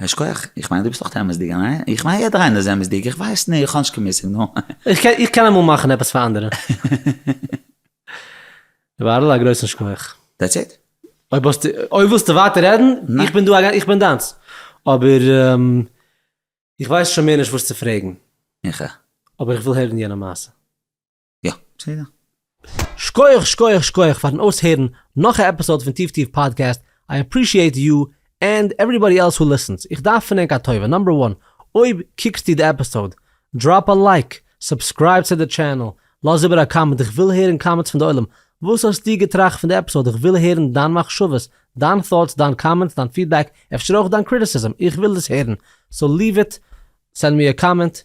ייש כח, איך מיין דו ביסט אויך אמת'דיג, ניין? איך מיין יעדער איינער איז אמת'דיג, איך ווייס נישט, איך האב נישט קיין מושג, נו. איך קען אמאל מאכן עפעס פאר אנדערע. בערל א גרויסן שכח. דעטס איט? אויב האסטו, אויב ווילסטו ווייטער רעדן, איך בין דא, איך בין דיינס. אבער איך ווייס שוין מער נישט וואס צו פרעגן. איך א. אבער איך וויל הערן יענע מעשה. יא בסדר. שקויעך שקויעך שקויעך פארן אויסהערן נאך א עפיסאד פון טיף טיף פאדקעסט, איי עפרישיעט יו ענד עוועריבאדי עלס הו ליסענס, איך דארף פון ענק א טובה, נאמבער וואן, אויב קוקסטו די עפיסאד, דראפ א לייק, סובסקרייב צו די טשענעל, לאז איבער א קאמענט, איך וויל הערן קאמענטס פון די עולם, וואס האסטו געטראכט פון די עפיסאד, איך וויל הערן דיין מחשבות, דיין thoughts, דיין קאמענטס, דיין פידבעק, אפשר אויך דיין קריטיסיזם, איך וויל דאס הערן, סאו ליוו איט, סענד מי א קאמענט.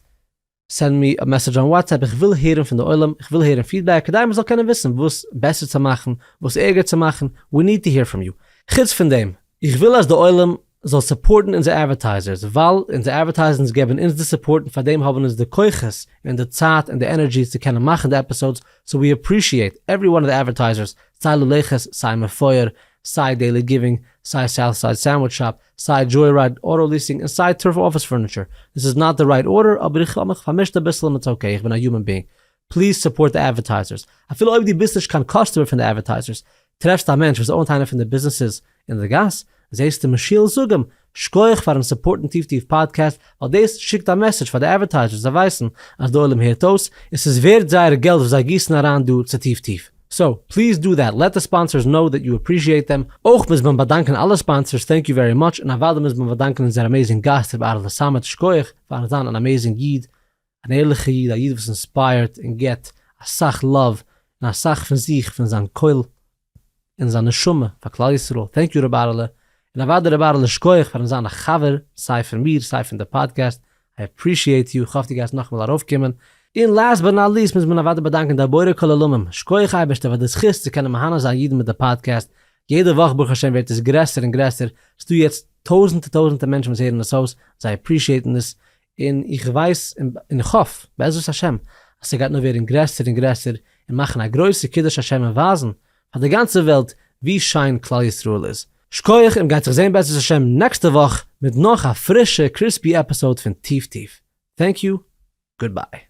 סענד מי א מעסעדזש אן וואטסעפפ, איך וויל הערן פון די עולם, איך וויל הערן פידבעק, כדי מען זאל קענען וויסן וואס בעסער צו מאכן, וואס ערגער צו מאכן, ווי ניד טו העיר פראם יו. חוץ פון דעם, איך וויל אז די עולם זאל סופארטן אונזער אדווערטייזערס, ווייל אונזער אדווערטייזענס געבן אונז די סופארט און פארדעם האבן אונז די כוחות און די צייט און די ענערדזשי צו קענען מאכן די עפיסאודס, סאו ווי אפרישיעט עווערי וואן אוו די אדווערטייזערס, סיי לולחס, סיי מפואר, סיי דעילי גיווינג, סיי סאוטסייד סענדוויטש שאפ, סיי דזשוי רייד אוטא ליסינג און סיי טורפ אפיס פורניטשער, דיס איז נאט די רייט ארדער אבער איך האב מיך פארמישט אביסל און איטס אקעי איך בין א יומען בינג, פליז סופארט די אדווערטייזערס אפילו אויב דו ביסט נישט קיין קאסטומער פון די אדווערטייזערס, טרעפסט א מענטש וואס אוינט איינע פון די ביזנעסעס אין די גאס, זעסטו משה'ן זאג אים שקויעך פארן סופארטן טיף טיף פאדקעסט ווייל דאס שיקט א מעסעדזש פאר די אדווערטייזערס זיי ווייסן אז די עולם הערט אויס און ס'איז ווערד זייער געלט וואס זיי גיסן אריין דא צו טיף טיף. סאו, פליז דא דעט, לעט די ספאנסערס קנאו דעט יו אפרישיעט דעם, אויך מוז מען באדאנקען אלע ספאנסערס טענק יו ווערי מאטש, און אוודאי מוז מען באדאנקען אונזער אמעזינג גאסט ר' אהרלע סאמעט שכוח פארן זיין אן אמעזינג איד, אן ערליכע איד, א איד וואס אינספייערט און געט אסאך לאוו און אסאך פון זיך, פון זיין קול און זיין נשמה פאר כלל ישראל, טענק יו ר' אהרלע, און אוודאי ר' אהרלע שכוח פארן זיין א חבר סיי פון מיר סיי פון די פאדקעסט, איי עפרישיעט יו, כ'האף דו גייסט נאכמאל ארויפקומען. און לאסט באט נאט ליסט מוז מען אוודאי באדאנקען די בורא כל עולמים, שקויעך אייבערשטער פאר די זכות צו קענען מהנה זיין אידן מיט די פאדקעסט, יעדע וואך ברוך השם ווערט עס גרעסער און גרעסער, ס'דא יעצט טויזענטע טויזענטע מענטשן וואס הערן עס אויס, זיי עפרישיעטן עס, און איך ווייס און איך האף בעזרת השם אז ס'גייט נאר ווערן גרעסער און גרעסער און מאכן א גרויסע קידוש השם און ווייזן פאר די גאנצע וועלט ווי שיין כלל ישראל איז. שקויעך און גייט זיך זעהן בעזרת השם נעקסטע וואך מיט נאך א פרישע קריספי עפיסאוד פון טיף טיף. טענק יו. גוד ביי.